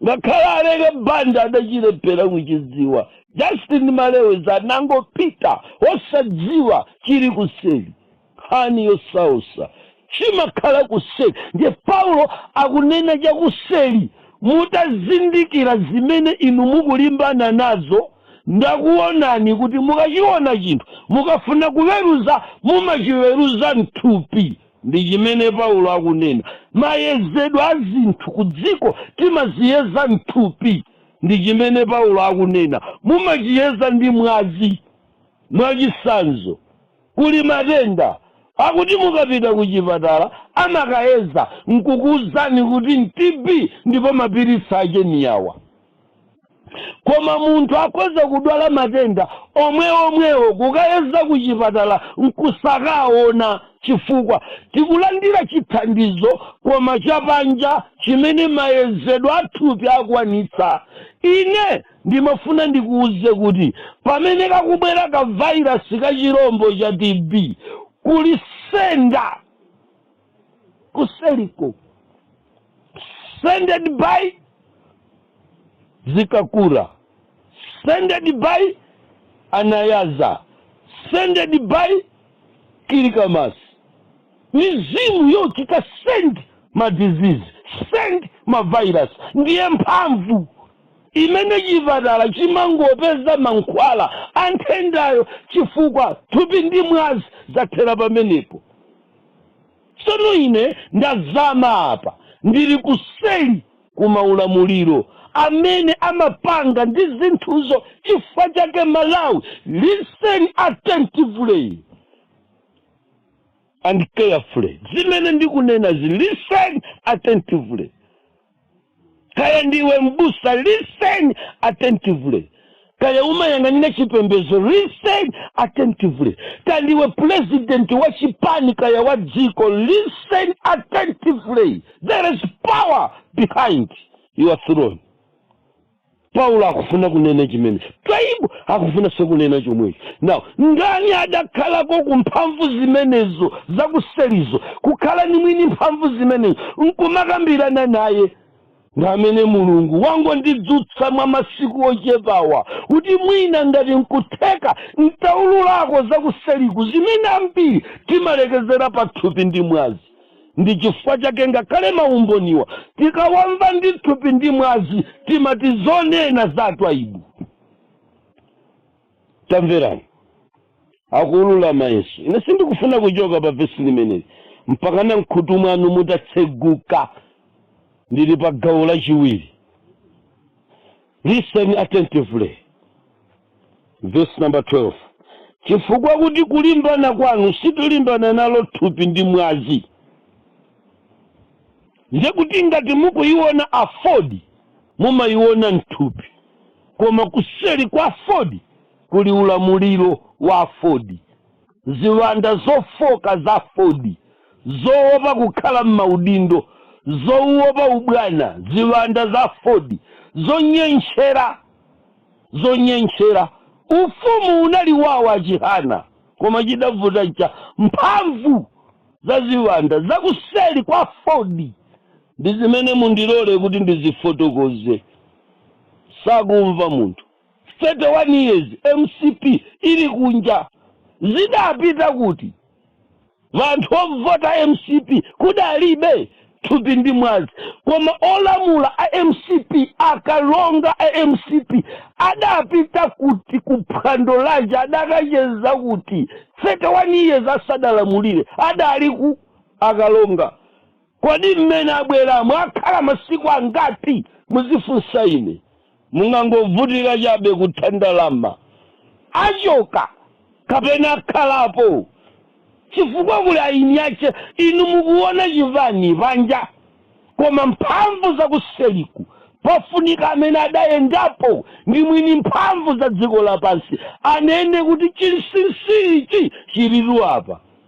ngakhale aleke banda adachilephera kuchidziwa justin malewezi anangopita osadziwa chili kuseli nkhani yosausa chimakhala kuseli ndiye paulo akunena chakuseli mutazindikira zimene inu mukulimbana nazo ndakuonani kuti mukachiona chinthu mukafuna kuweruza mumachiweruza mthupi ndi chimene paulo akunena mayezedwe a zinthu ku dziko timaziyeza mthupi ndi chimene paulo akunena mumachiyeza ndi mwazi mwachitsanzo Kuli matenda akuti mukapita kuchipatala amakayeza nkukuuzani kuti n'TB ndipo mapiritsi ake ndi awa. Koma munthu akhoza kudwala matenda omweomwewo kukayeza kuchipatala nkusakaona chifukwa tikulandira chithandizo koma chapanja chimene mayezedwe athupi akwanitsa. Ine. Ndimafuna ndikuuze kuti pamene kakubwera ka virus ka chirombo cha TB kuli senda kuseliko sended by Zikakura sended by Anayaza sended by Kilikamasi mizimu yochita send ma disease send ma virus ndiye mphamvu imene chipatala chimangopeza mankhwala a nthendayo chifukwa thupi ndi mwazi zathera pamenepo. Tsono ine ndazama apa, ndili kuseli ku maulamuliro amene amapanga ndi zinthuzo chifukwa chake Malawi listen attentively and carefully zimene ndikunena zi listen attentively. kaya ndiwe mbusa listen attentively kaya umayang'anira chipembedzo listen attentively kaya ndiwe president wa chipani kaya wa dziko listen attentively there is power behind your throne Paulo akufuna kunena chimenecho. Twaibu akufunanso kunena chomwecho. Now, ndani adakhalako ku mphamvu zimenezo zakuselizo, kukhala ndi mwini mphamvu zimenezo, nkumakambirana naye? Ndi amene Mulungu wangondidzutsa mwa masiku ochepawa, kuti mwina ngati nkutheka ntaululako zakuseliku zimene ambiri timalekezera pa thupi ndi mwazi. ndi chifukwa chake ngakhale maumboniwa tikawamva ndi thupi ndi mwazi timati zonena za Twaibu tamverani akuulula mayeso ine sindikufuna kuchoka pa vesi limeneli mpaka na mkhutu mwanu mutatseguka ndili pa gawo lachiwiri Listen attentively verse number 12 chifukwa kuti kulimbana kwanu sitilimbana nalo thupi ndi mwazi ndiye kuti ngati mukuyiona afodi mumayiona mthupi koma kuseri kwa afodi kuli ulamuliro wa afodi Ziwanda zofooka za Ford, zowopa kukhala m'maudindo, zowopa ubwana, ziwanda za Ford, zonyentchera, zonyentchera. Ufumu unali wawo, Achihana, koma chidavuta n'cha mphamvu za ziwanda za kuseri kwa Ford. Ndi zimene mundilole kuti ndizifotokoze. Sakumva munthu. 31 years mcp ili kunja zidapita kuti anthu ovota mcp kudalibe thupi ndi mwazi koma olamula a mcp akalonga a mcp adapita kuti kuphwando laje adakacheza kuti 31 years asadalamulire adali ku akalonga Kodi mmene abweramo akhala masiku angati? muzifunsa ine. Mungangovutika chabe kutha ndalama. Achoka kapena akhalapo chifukwa kuli eni ache. Inu mukuwona chibani panja, koma mphamvu zakuseriku, pafunika amene adayendapo ndi mwini mphamvu za dziko lapansi anene kuti chinsinsi ichi chilitu apa.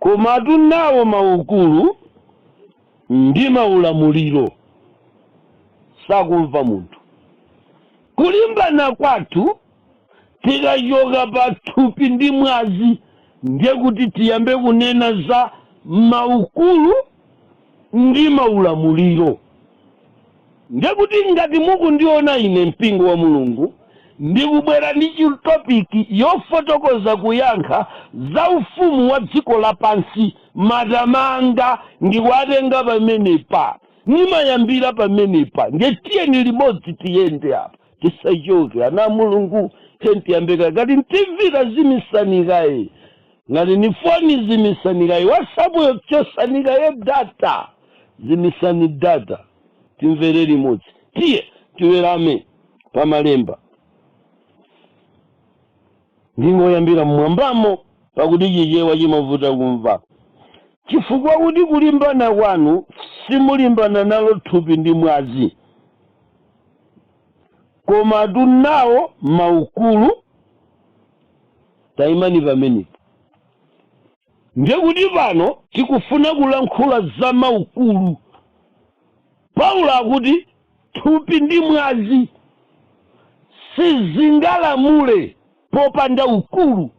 Komatu nawo maukulu ndi maulamuliro sakumva munthu. Kulimbana kwathu tikachoka pa thupi ndi mwazi, ndiye kuti tiyambe kunena za maukulu ndi maulamuliro. Ndiye kuti ngati mukundiona ine mpingo wa Mulungu ndikubwera ndi chi topic yofotokoza kuyankha za ufumu wa dziko lapansi matama anga ndikuatenga pamenepa ndimayambira pamenepa ndiye tiyeni limodzi tiyende apa tisachoke ana a Mulungu tiyeni tiyambe kaye ngati ni TV tazimisani kaye ngati ni foni zimisani kaye whatsapp yo chosani kaye data Zimitsani data timvere limodzi. Tiye tiwerenge pa malemba. Ndingoyambira m'mwambamo pakuti Chichewa chimavuta kumva. Chifukwa kuti kulimbana kwanu simulimbana nalo thupi ndi mwazi, komatu nawo maukulu. Taimani pamenepo. Ndiye kuti pano tikufuna kulankhula za maukulu. Paulo akuti thupi ndi mwazi sizingalamule popanda ukulu.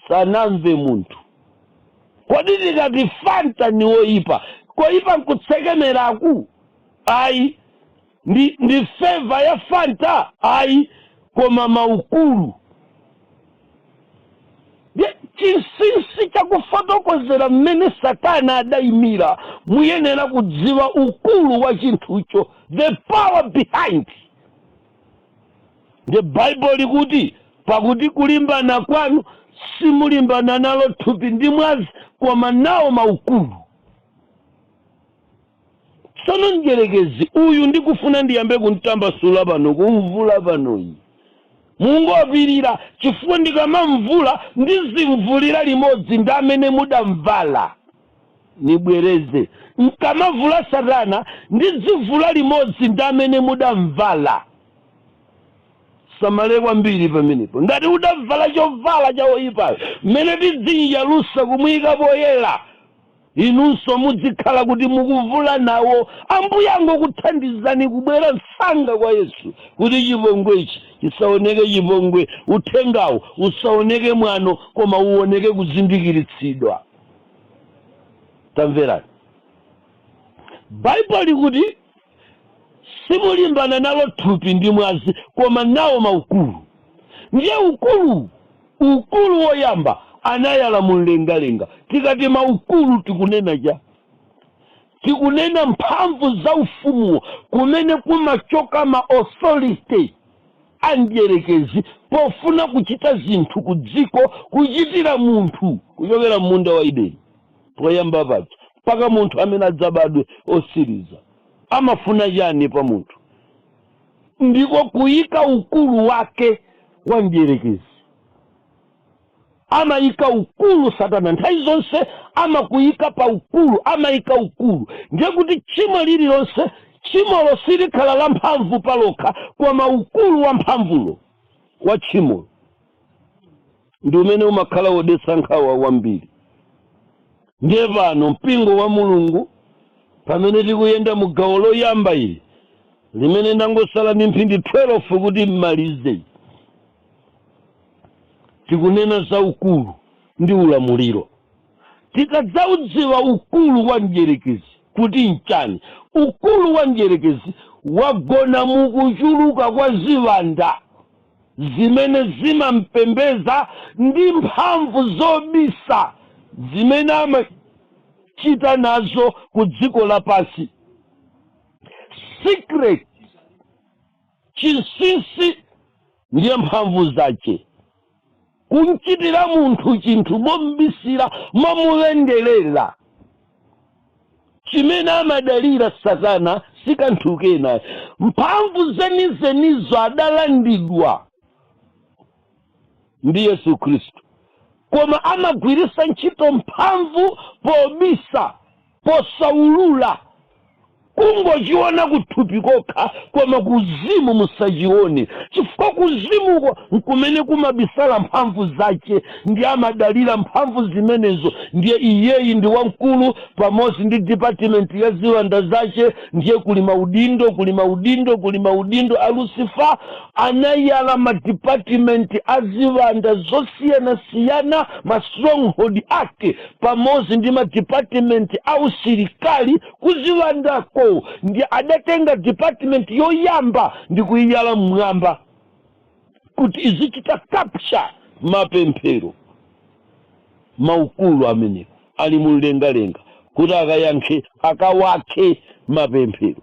Sanamve munthu. Kodi tikati Fanta ni yoipa, koipa nkutsekemeraku? Ayi. Ndi, ndi fava ya Fanta? Ayi, koma maukulu. Ye, chinsinsi cha kufotokozera mmene Satana adaimira, muyenera kudziwa ukulu wa chinthucho, the power behind. Nde Bible likuti, pakuti kulimbana kwanu simulimbana nalo thupi ndi mwazi, koma nawo maukulu. Tsono mdyerekezi uyu ndikufuna ndiyambe kumtambasula pano, kumvula pano ine. Mungopirira chifukwa ndikamamvula ndizimvulira limodzi ndi amene mudamvala. Nibwereze, N'kamavula Satana ndidzimvula limodzi ndi amene mudamvala. Tisamale kwambiri pamenepo. Ngati udamvala chovala cha woyipayo, mmene tidzim'yalusa kumuika poyera. Inunso mudzikhala kuti mukuvula nawo. Ambuye angokuthandizani kubwera msanga kwa Yesu kuti chipongwe ichi chisaoneke chipongwe, uthengawu usaoneke mwano koma uoneke kuzindikiritsidwa. Tamverani. Bible likuti. simulimbana nalo thupi ndi mwazi koma nawo maukulu ndiye ukulu ukulu woyamba anayala mumlengalenga tikati maukulu tikunena chani tikunena mphamvu za ufumuwo kumene kumachoka ma authority a mdierekezi pofuna kuchita zinthu ku dziko kuchitira munthu kuchokera m'munda wa ideni poyamba paja mpaka munthu amene adzabadwe osiriza amafuna chani pa munthu ndiko kuyika ukulu wake wa mdierekezi amayika ukulu satana nthawi zonse amakuyika pa ukulu amayika ukulu ndiye kuti tchimo lililonse tchimolo silikhala la mphamvu palokha koma ukulu wa mphamvulo wa tchimolo ndi umene umakhala wodetsa nkhawa kwambiri ndiye pano mpingo wa mulungu pamene tikuyenda mu gawo loyamba ili limene ndangosala ndi mphindi 12 kuti n'malize tikunena za ukulu ndi ulamuliro tikadzaudziwa ukulu wa mdyerekezi kuti nchani ukulu wa mdyerekezi wagona mukuchuluka kwa ziwanda zimene zimampembeza ndi mphamvu zobisa zimene amachita nazo ku dziko lapansi secret chinsinsi ndiye mphamvu zace kumchitira munthu chinthu mombisira momulenjerera chimene amadalira satana sikanthu kena mphamvu zenizenizo adalandidwa ndi yesu khristu koma amagwiritsa ntchito mphamvu pobisa posaulula kungochiona kuthupi kokha koma kuzimu musachione chifukwa kuzimuko nkumene kumabisala mphamvu zace ndiye amadalira mphamvu zimenezo ndiye iyeyi ndi wamkulu pamodzi ndi dipatimenti ya ziwanda zace ndiye kuli maudindo kuli maudindo kuli maudindo a lucifa anayala madipatimenti a ziwanda zosiyanasiyana ma stronghold ake pamodzi ndi ma department a usilikali kuziwandako ndi adatenga department yoyamba ndi kuyiyala mmwamba kuti izichita capture mapemphero maukulu amenewo ali mumlengalenga kuti akayankhe akawakhe mapemphero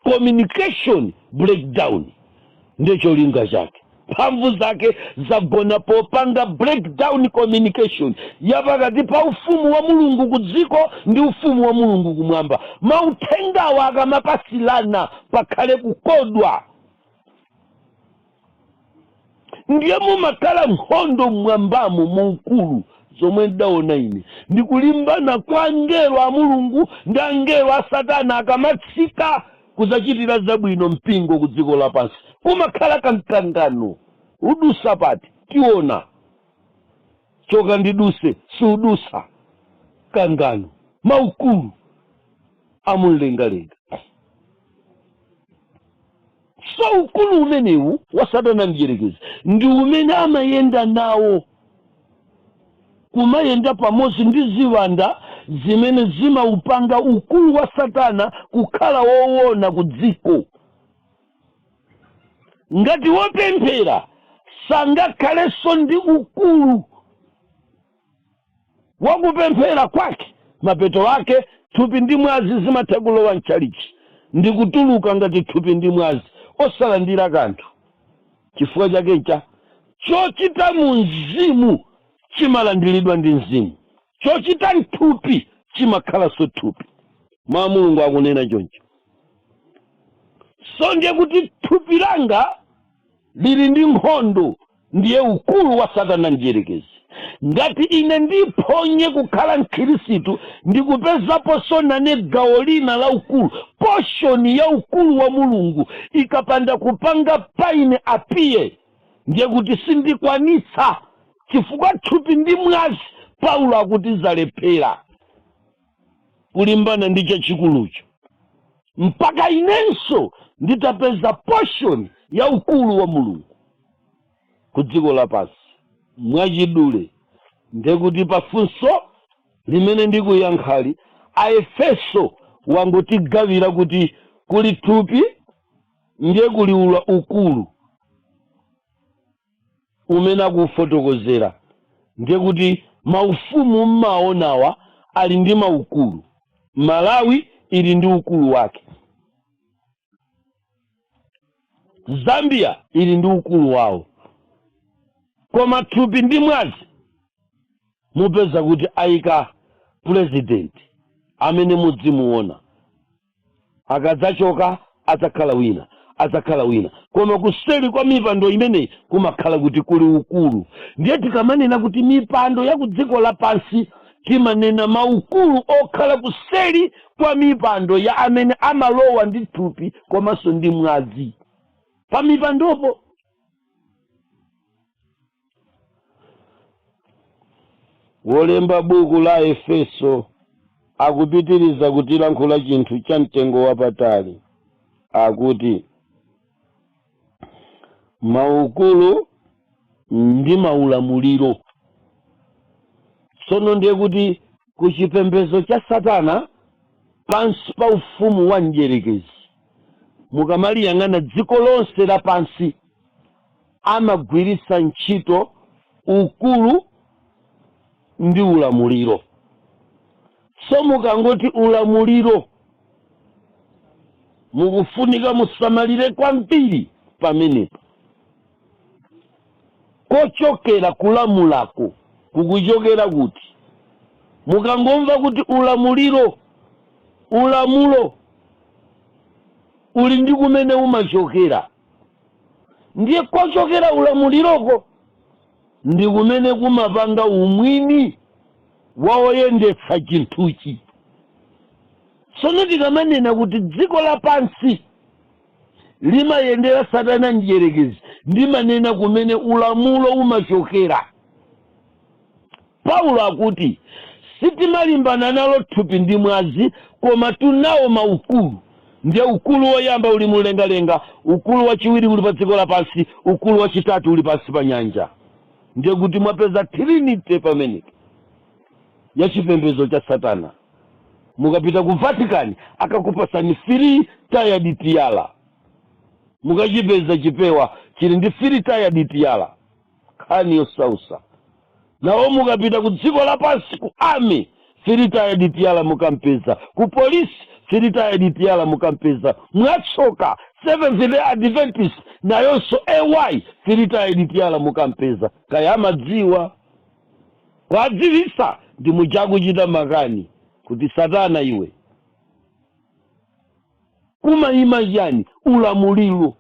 communication breakdown ndiye cholinga chake mphamvu zake zagona popanga breakdown communication ya pakati pa ufumu wa mulungu ku dziko ndi ufumu wa mulungu kumwamba mauthengawa akamapasilana pakhale kukodwa ndiye mumakhala nkhondo mmwambamo mu ukulu zomwe ndidaona ine ndi kulimbana kwa angelo a mulungu ndi angelo a satana akamatsika kudzachitira zabwino mpingo ku dziko lapansi kumakhala kamkangano udusa pati tiona choka ndiduse siudusa mkangano maukulu amumlengalenga so ukulu umenewu wa satana mdyerekezi ndi umene amayenda nawo kumayenda pamodzi ndi ziwanda zimene zimaupanga ukulu wa satana kukhala woona ku dziko ngati wopemphera sangakhalenso ndi ukulu wakupemphera kwake mapeto ake thupi ndi mwazi zimatha kulowa mtchalitchi ndi kutuluka ngati thupi ndi mwazi osalandira kanthu chifukwa chake ncha chochita mu mzimu chimalandiridwa ndi mzimu chochita mthupi chimakhalanso thupi mawu a mulungu akunena choncho so ndiye kuti thupi langa lili ndi nkhondo ndiye ukulu wa satana mdyerekezi ngati ine ndiphonye kukhala mkhirisitu ndi kupezaponso nane gawo lina la ukulu poshoni ya ukulu wa mulungu ikapanda kupanga pa ine apiye ndiye kuti sindikwanitsa chifukwa thupi ndi mwazi paulo akuti zalephera kulimbana ndi chachikulucho mpaka inenso nditapeza portion ya ukulu wa mulungu ku dziko lapansi mwachidule ndiye kuti pa funso limene ndikuyankhali aefeso wangotigawira kuti kuli thupi ndiye kuli ula ukulu umene akuufotokozera ndiye kuti maufumu mumaonawa ali ndi maukulu malawi ili ndi ukulu wake zambia ili ndi ukulu wawo koma thupi ndi mwazi mupeza kuti ayika pulezidenti amene muzimuona akadzachoka adzakhala wina adzakhala wina koma kuseli kwa mipando imeneyi kumakhala kuti kuli ukulu ndiye tikamanena kuti mipando ya ku dziko lapansi timanena maukulu okhala kuseli kwa mipando ya amene amalowa ndi thupi komanso ndi mwazi pa mipandopo wolemba buku la efeso akupitiriza kutilankhula chinthu cha mtengo wapatali akuti maukulu ndi maulamuliro tsono ndiye kuti ku chipembedzo cha satana pansi pa ufumu wa mdyerekezi mukamaliyang'ana dziko lonse lapansi amagwiritsa ntchito ukulu ndi ulamuliro. So mukangoti ulamuliro mukufunika musamalire kwambiri pamenepo. Kochokera kulamulako kukuchokera kuti? Mukangomva kuti ulamuliro, ulamulo uli ndi kumene umachokera. ndiye kochokera ulamuliroko ndi kumene kumapanga umwini wa oyendetsa chinthuchi tsono tikamanena kuti dziko lapansi limayendera satana mdyerekezi ndimanena kumene ulamulo umachokera Paulo akuti, Sitimalimbana nalo thupi ndi mwazi, komatu nawo maukulu. Ndiye ukulu woyamba uli mumlengalenga, ukulu wachiwiri uli padziko lapansi, ukulu wachitatu uli pansi pa nyanja. Ndiye kuti mwapeza trinity pamenepo ya chipembedzo cha Satana. Mukapita ku Vatican akakupatsani three tiered tiara, mukachipeza chipewa chili ndi three tiered tiara. nkhani yosausa nawo mukapita ku dziko lapansi ku army three tiered tiara mukampeza ku polisi three tiered tiara mukampeza mwatsoka seventh day adventist nayonso ayi three tiered tiara mukampeza kaya amadziwa kuwadziwitsa ndi muchakuchita makani kuti satana iwe kumaima chani ulamuliro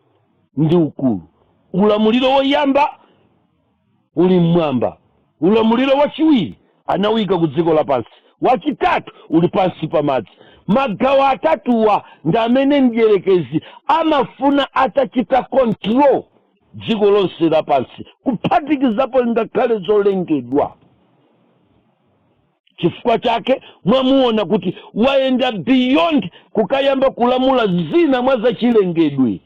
ndi ukulu ulamuliro woyamba uli mmwamba ulamuliro wachiwiri anauika ku dziko lapansi wachitatu uli pansi pa madzi magawo atatuwa ndi amene mdyerekezi amafuna atachita control dziko lonse lapansi kuphatikizapo ngakhale zolengedwa chifukwa chake mwamuona kuti wayenda beyond kukayamba kulamula zina mwa zachilengedwe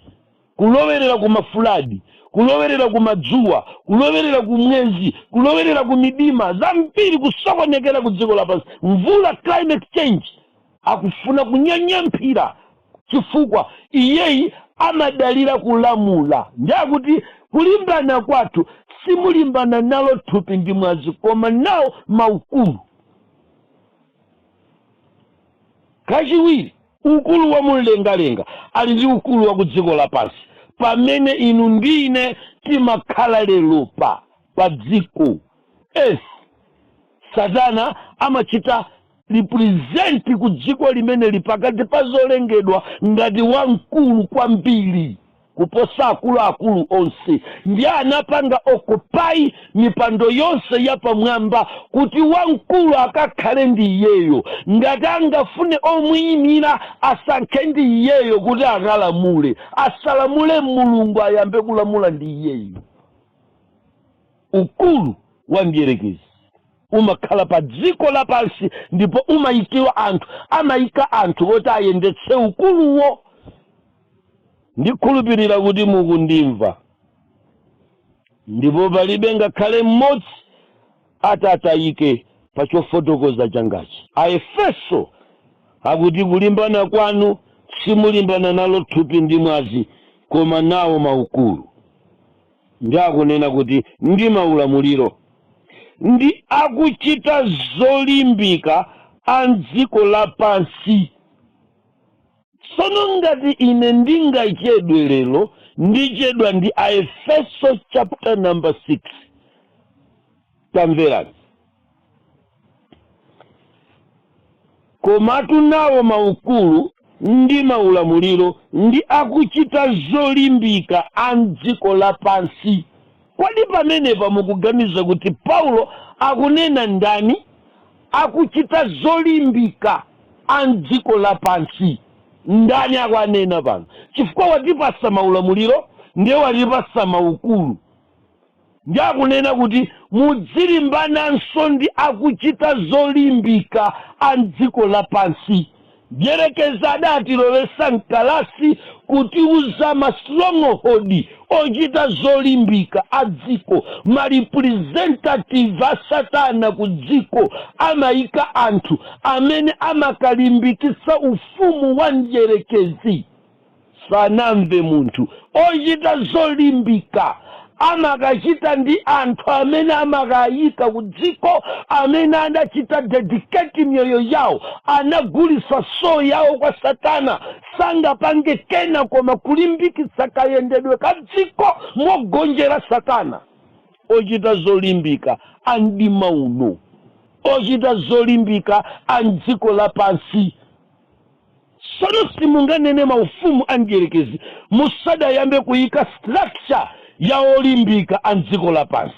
kulowerera ku ma flood kulowerera ku madzuwa kulowerera ku mwezi kulowerera ku midima zambiri kusokonekera ku dziko lapansi mvula climate change akufuna kunyanyamphira chifukwa iyeyi amadalira kulamula ndiye akuti kulimbana kwathu simulimbana nalo thupi ndi mwazi koma nawo maukulu kachiwiri ukulu wa mumlengalenga ali ndi ukulu wa ku dziko lapansi pamene inu ndi ine timakhala lero pa pa dziko earth satana amachita represent ku dziko limeneli pakati pa zolengedwa ngati wamkulu kwambiri kuposa akuluakulu onse ndi anapanga occupy mipando yonse yapamwamba kuti wamkulu akakhale ndi iyeyo ngati angafune omuyimira asankhe ndi iyeyo kuti akalamule asalamule mulungu ayambe kulamula ndi iyeyo ukulu wa mdierekezi umakhala pa dziko lapansi ndipo umayikiwa anthu amayika anthu oti ayendetse ukuluwo ndikhulupirira kuti mukundimva ndipo palibe ngakhale mmodzi atatayike pa chofotokoza changachi aefeso akuti kulimbana kwanu simulimbana nalo thupi ndi mwazi koma nawo maukulu ndi akunena kuti ndi maulamuliro ndi akuchita zolimbika a m'dziko lapansi. Tsono ngati ine ndingachedwe lero, ndichedwa ndi Aefeso chapter number 6. Tamverani. Komatu nawo maukulu ndi maulamuliro ndi akuchita zolimbika a m'dziko lapansi. Kodi pamenepa mukuganiza kuti Paulo akunena ndani? Akuchita zolimbika a m'dziko lapansi. Ndani akuwanena pano? Chifukwa watipatsa maulamuliro ndiye watipatsa maukulu. Ndiye akunena kuti mudzilimbananso ndi akuchita zolimbika a m'dziko lapansi. Mdyerekezi adaatilowetsa m'kalasi kutiwuza mastronghold ochita zolimbika a dziko, ma representative a satana ku dziko, amaika anthu amene amakalimbikitsa ufumu wa mdyerekezi. Sanamve munthu ochita zolimbika amakachita ndi anthu amene amakaika ku dziko amene anachita dedicate miyoyo yawo anagulitsa soul yawo kwa satana sangapange kena koma kulimbikitsa kayendedwe ka dziko mogonjera satana ochita zolimbika a mdima uno ochita zolimbika a mdziko lapansi Tsono simunganene maufumu a mdyerekezi musadayambe kuika structure ya olimbika a mdziko lapansi.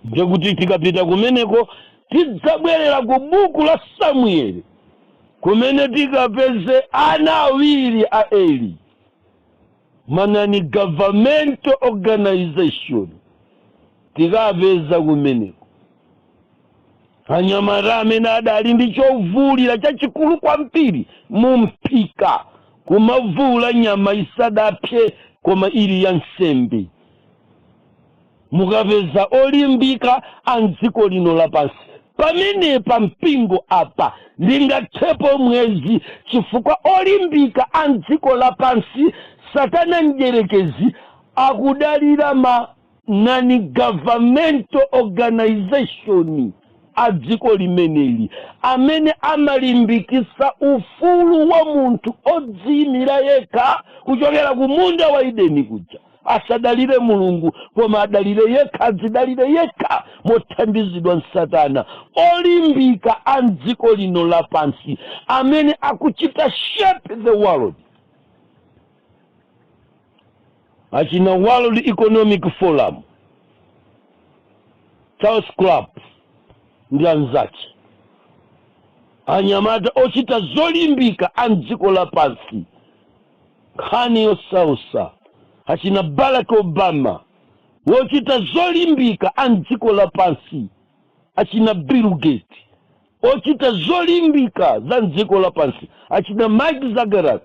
Ndiye kuti tikapita kumeneko tidzabwerera ku buku la Samueli kumene tikapeze ana awiri a Eli. Ma non-governmental organization tikapeza kumeneko anyamata amene adali ndi chovuulira chachikulu kwambiri mu mphika kumavuula nyama isadapse koma ili ya nsembe Mukapeza olimbika a m'dziko lino lapansi, pamenepa mpingo apa ndingathepo mwezi chifukwa olimbika a m'dziko lapansi satana mdyerekezi akudalira ma non-governmental organization a dziko limeneli amene amalimbikitsa ufulu wa munthu odziyimira yekha kuchokera ku munda wa Edeni kuja. asadalire mulungu koma adalire yekha adzidalire yekha mothandizidwa ndi satana olimbika a mdziko lino lapansi amene akuchita shape the world achina world economic forum charles club ndi anzake anyamata ochita zolimbika a mdziko lapansi Nkhani yosausa achina Barack Obama wochita zolimbika a mdziko lapansi achina Bill Gates ochita zolimbika za mdziko lapansi achina Mark Zuckerberg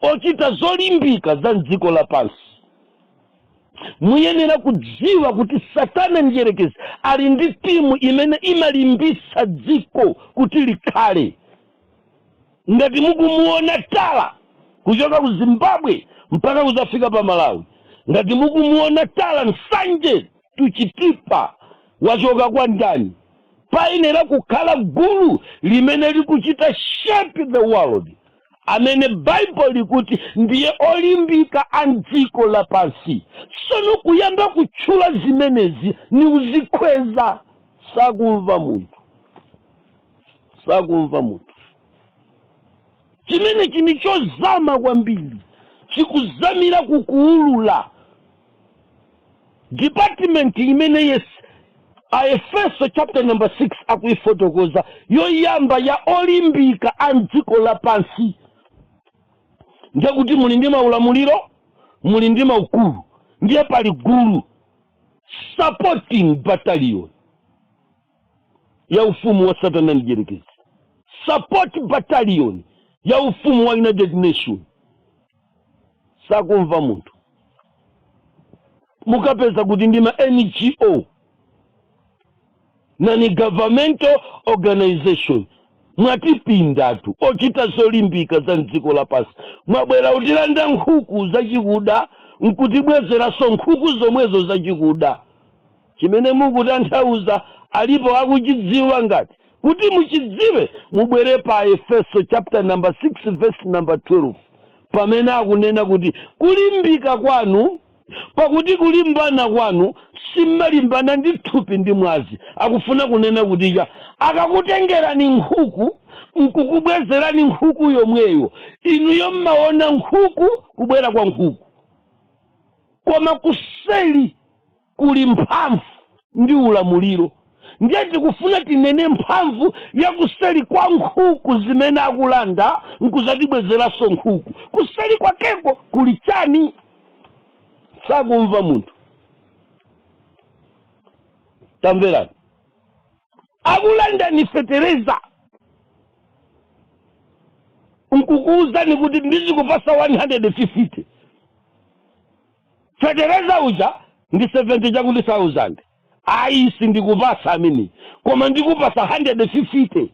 ochita zolimbika za mdziko lapansi muyenera kudziwa kuti satana mdyerekezi ali ndi timu imene imalimbitsa dziko kuti likhale Ngati mukumuona tala kuchoka ku Zimbabwe mpaka kudzafika pa Malawi, ngati mukumuona tala Nsanje to Chitipa wachoka kwa ndani? Payenera kukhala gulu limene likuchita shape the world amene Bible likuti ndiye olimbika a mdziko lapansi. Sono kuyamba kutchula zimenezi ni kudzikhweza sakumva munthu. sakumva munthu chimenechi ni chozama kwambiri chikuzamira kukuulula department imene yes aefeso chapter number 6 akuifotokoza yoyamba ya olimbika a mdziko lapansi ndiye kuti muli ndi maulamuliro muli ndi maukulu ndiye pali gulu supporting battalion ya ufumu wa satana mdyerekezi support battalion ya ufumu wa united nation sakumva munthu mukapeza kuti ndi ma ngo non governmental organization mwatipindatu ochita zolimbika za mdziko lapansi mwabwera kutilanda nkhuku zachikuda nkutibwezeranso nkhuku zomwezo zachikuda Chimene mukutanthauza alipo akuchidziwa ngati? Kuti muchidziwe mubwere pa Aefeso chapter number 6 verse number 12 pamene akunena kuti kulimbika kwanu pakuti kulimbana kwanu simmalimbana ndi thupi ndi mwazi akufuna kunena kuti ija akakutengerani nkhuku nkukubwezerani nkhuku yomweyo inuyo mmaona nkhuku kubwera kwa nkhuku koma kuseli kuli mphamvu ndi ulamuliro. Ndiye tikufuna tinene mphamvu ya kuseri kwa nkhuku zimene akulanda n'kuzatibwezeranso nkhuku. Kuseri kwakeko kuli chani? Sakumva munthu. Tamverani. Akulandani fetereza nkukuwuzani kuti ndidzikupatsa 150. fetereza uja ndi 70 chakuti thousand ayi sindikupatsa ameneyo koma ndikupatsa 150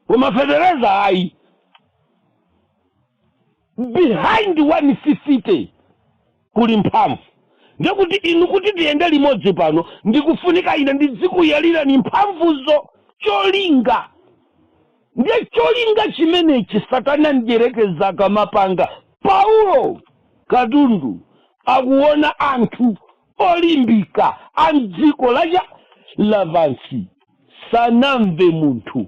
koma fetereza ayi behind 150 kuli mphamvu ndikuti inu kuti tiyende limodzi pano ndikufunika ine ndidzikuyalirani mphamvuzo cholinga Ndiye cholinga chimenechi Satana Mdyerekezi akamapanga, Paulo, katundu, akuwona anthu olimbika a m'dziko la lapansi sakumva munthu,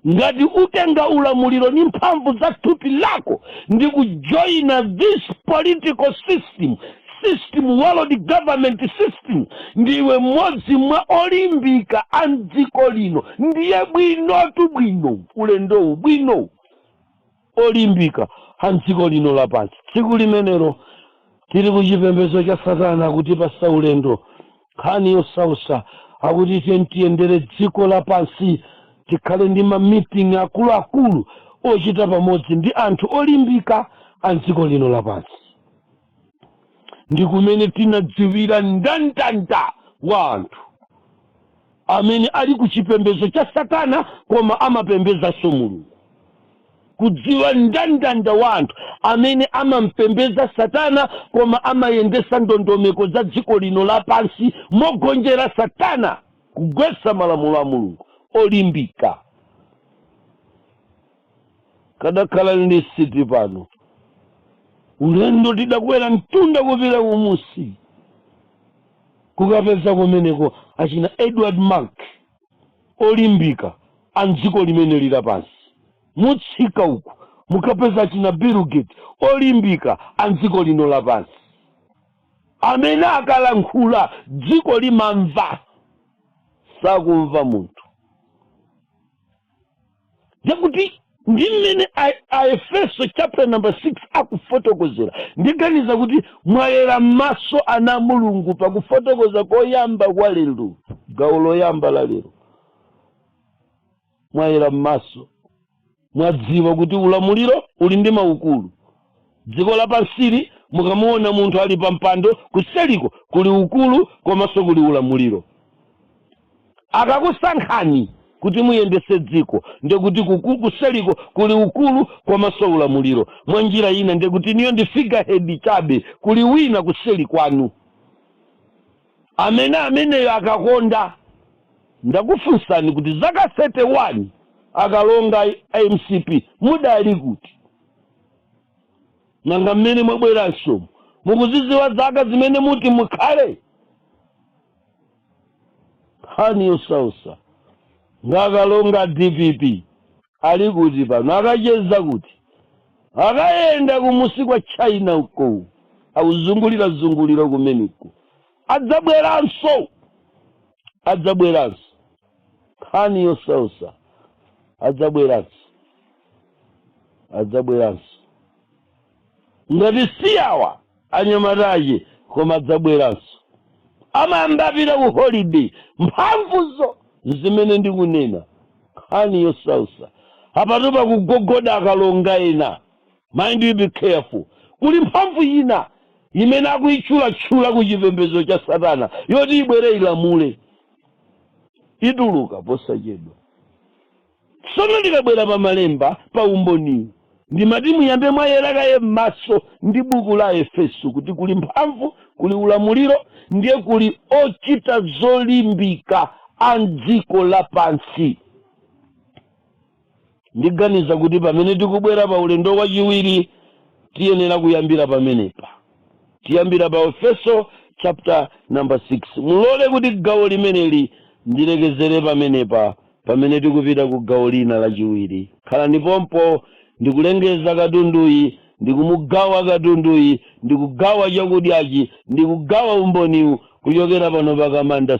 ngati utenga ulamuliro ndi mphamvu za thupi lako ndi kujoina this political system, system, world government system, ndiwe mmodzi mwa olimbika a mdziko lino, ndiye bwinotu bwinowu ulendowu bwino olimbika a mdziko lino lapansi. Tsiku limenelo tili ku chipembedzo cha Satana kutipatsa ulendo nkhani yosautsa akuti tiyeni tiyendere dziko lapansi tikhale ndi mamiting akuluakulu ochita pamodzi ndi anthu olimbika a mdziko lino lapansi. ndi kumene tinadziwira mndandanda wa anthu amene ali ku chipembedzo cha satana koma amapembedzanso mulungu kudziwa mndandanda wa anthu amene amapembedza satana koma amayendetsa ndondomeko za dziko lino lapansi mogonjera satana kugwetsa malamulo a mulungu olimbika kadakhala ndi list pano ulendo tidakwera mtunda kupita kumunsi kukapeza kumeneko achina edward mark olimbika a mdziko limene lili pansi mutsika uku mukapeza achina bill gates olimbika a mdziko lino lapansi amene akalankhula dziko limamva sakumva munthu zakuti ndi mmene a- aefeso chapter number 6 akufotokozera ndiganiza kuti mwayera m'maso ana a mulungu pakufotokoza koyamba kwa lero gawo loyamba la lero mwayera m'maso mwadziwa kuti ulamuliro uli ndi maukulu Dziko lapansili mukamuona munthu ali pampando kuseriko kuli ukulu komanso kuli ulamuliro. Akakusankhani kuti muyendetse dziko ndiye kuti kuku- kuseriko kuli ukulu komanso ulamuliro. Mwa njira ina ndiye kuti inuyo ndi figurehead chabe, kuli wina kuseri kwanu amene ameneyo akakonda. Ndakufunsani kuti zaka 31 akalonga a mcp mudali kuti? nanga mmene mwabweranso mukuzidziwa zaka zimene muti mukhale nkhani yosausa nga kalonga a dpp ali kuti pano akacheza kuti akayenda kumunsi kwa china uko akuzungulira zungulira kumeneko adzabweranso adzabweranso nkhani yosausa adzabweranso adzabweranso ngati si awa anyamata ake koma adzabweranso amayamba apita ku holiday mphamvuzo zimene ndikunena nkhani yosausa apatu pakugogoda akalonga ena mind you be careful kuli mphamvu ina imene akuyitchulatchula ku chipembedzo cha satana yoti ibwere ilamule ituluka posachedwa Tsono tikabwera pa malemba pa umboniwu, ndimati muyambe mwayera kaye m'maso ndi buku la Aefeso kuti kuli mphamvu, kuli ulamuliro, ndiye kuli ochita zolimbika a m'dziko lapansi. Ndiganiza kuti pamene tikubwera pa ulendo wachiwiri tiyenera kuyambira pamenepa. tiyambira pa aefeso chapter number 6 mulole kuti gawo limeneli ndilekezere pamenepa pamene tikupita ku gawo lina lachiwiri khalani pompo ndikulengeza katunduyi ndikumugawa katunduyi ndikugawa chakudyachi ndikugawa umboniwu kuchokera pano pa kamanda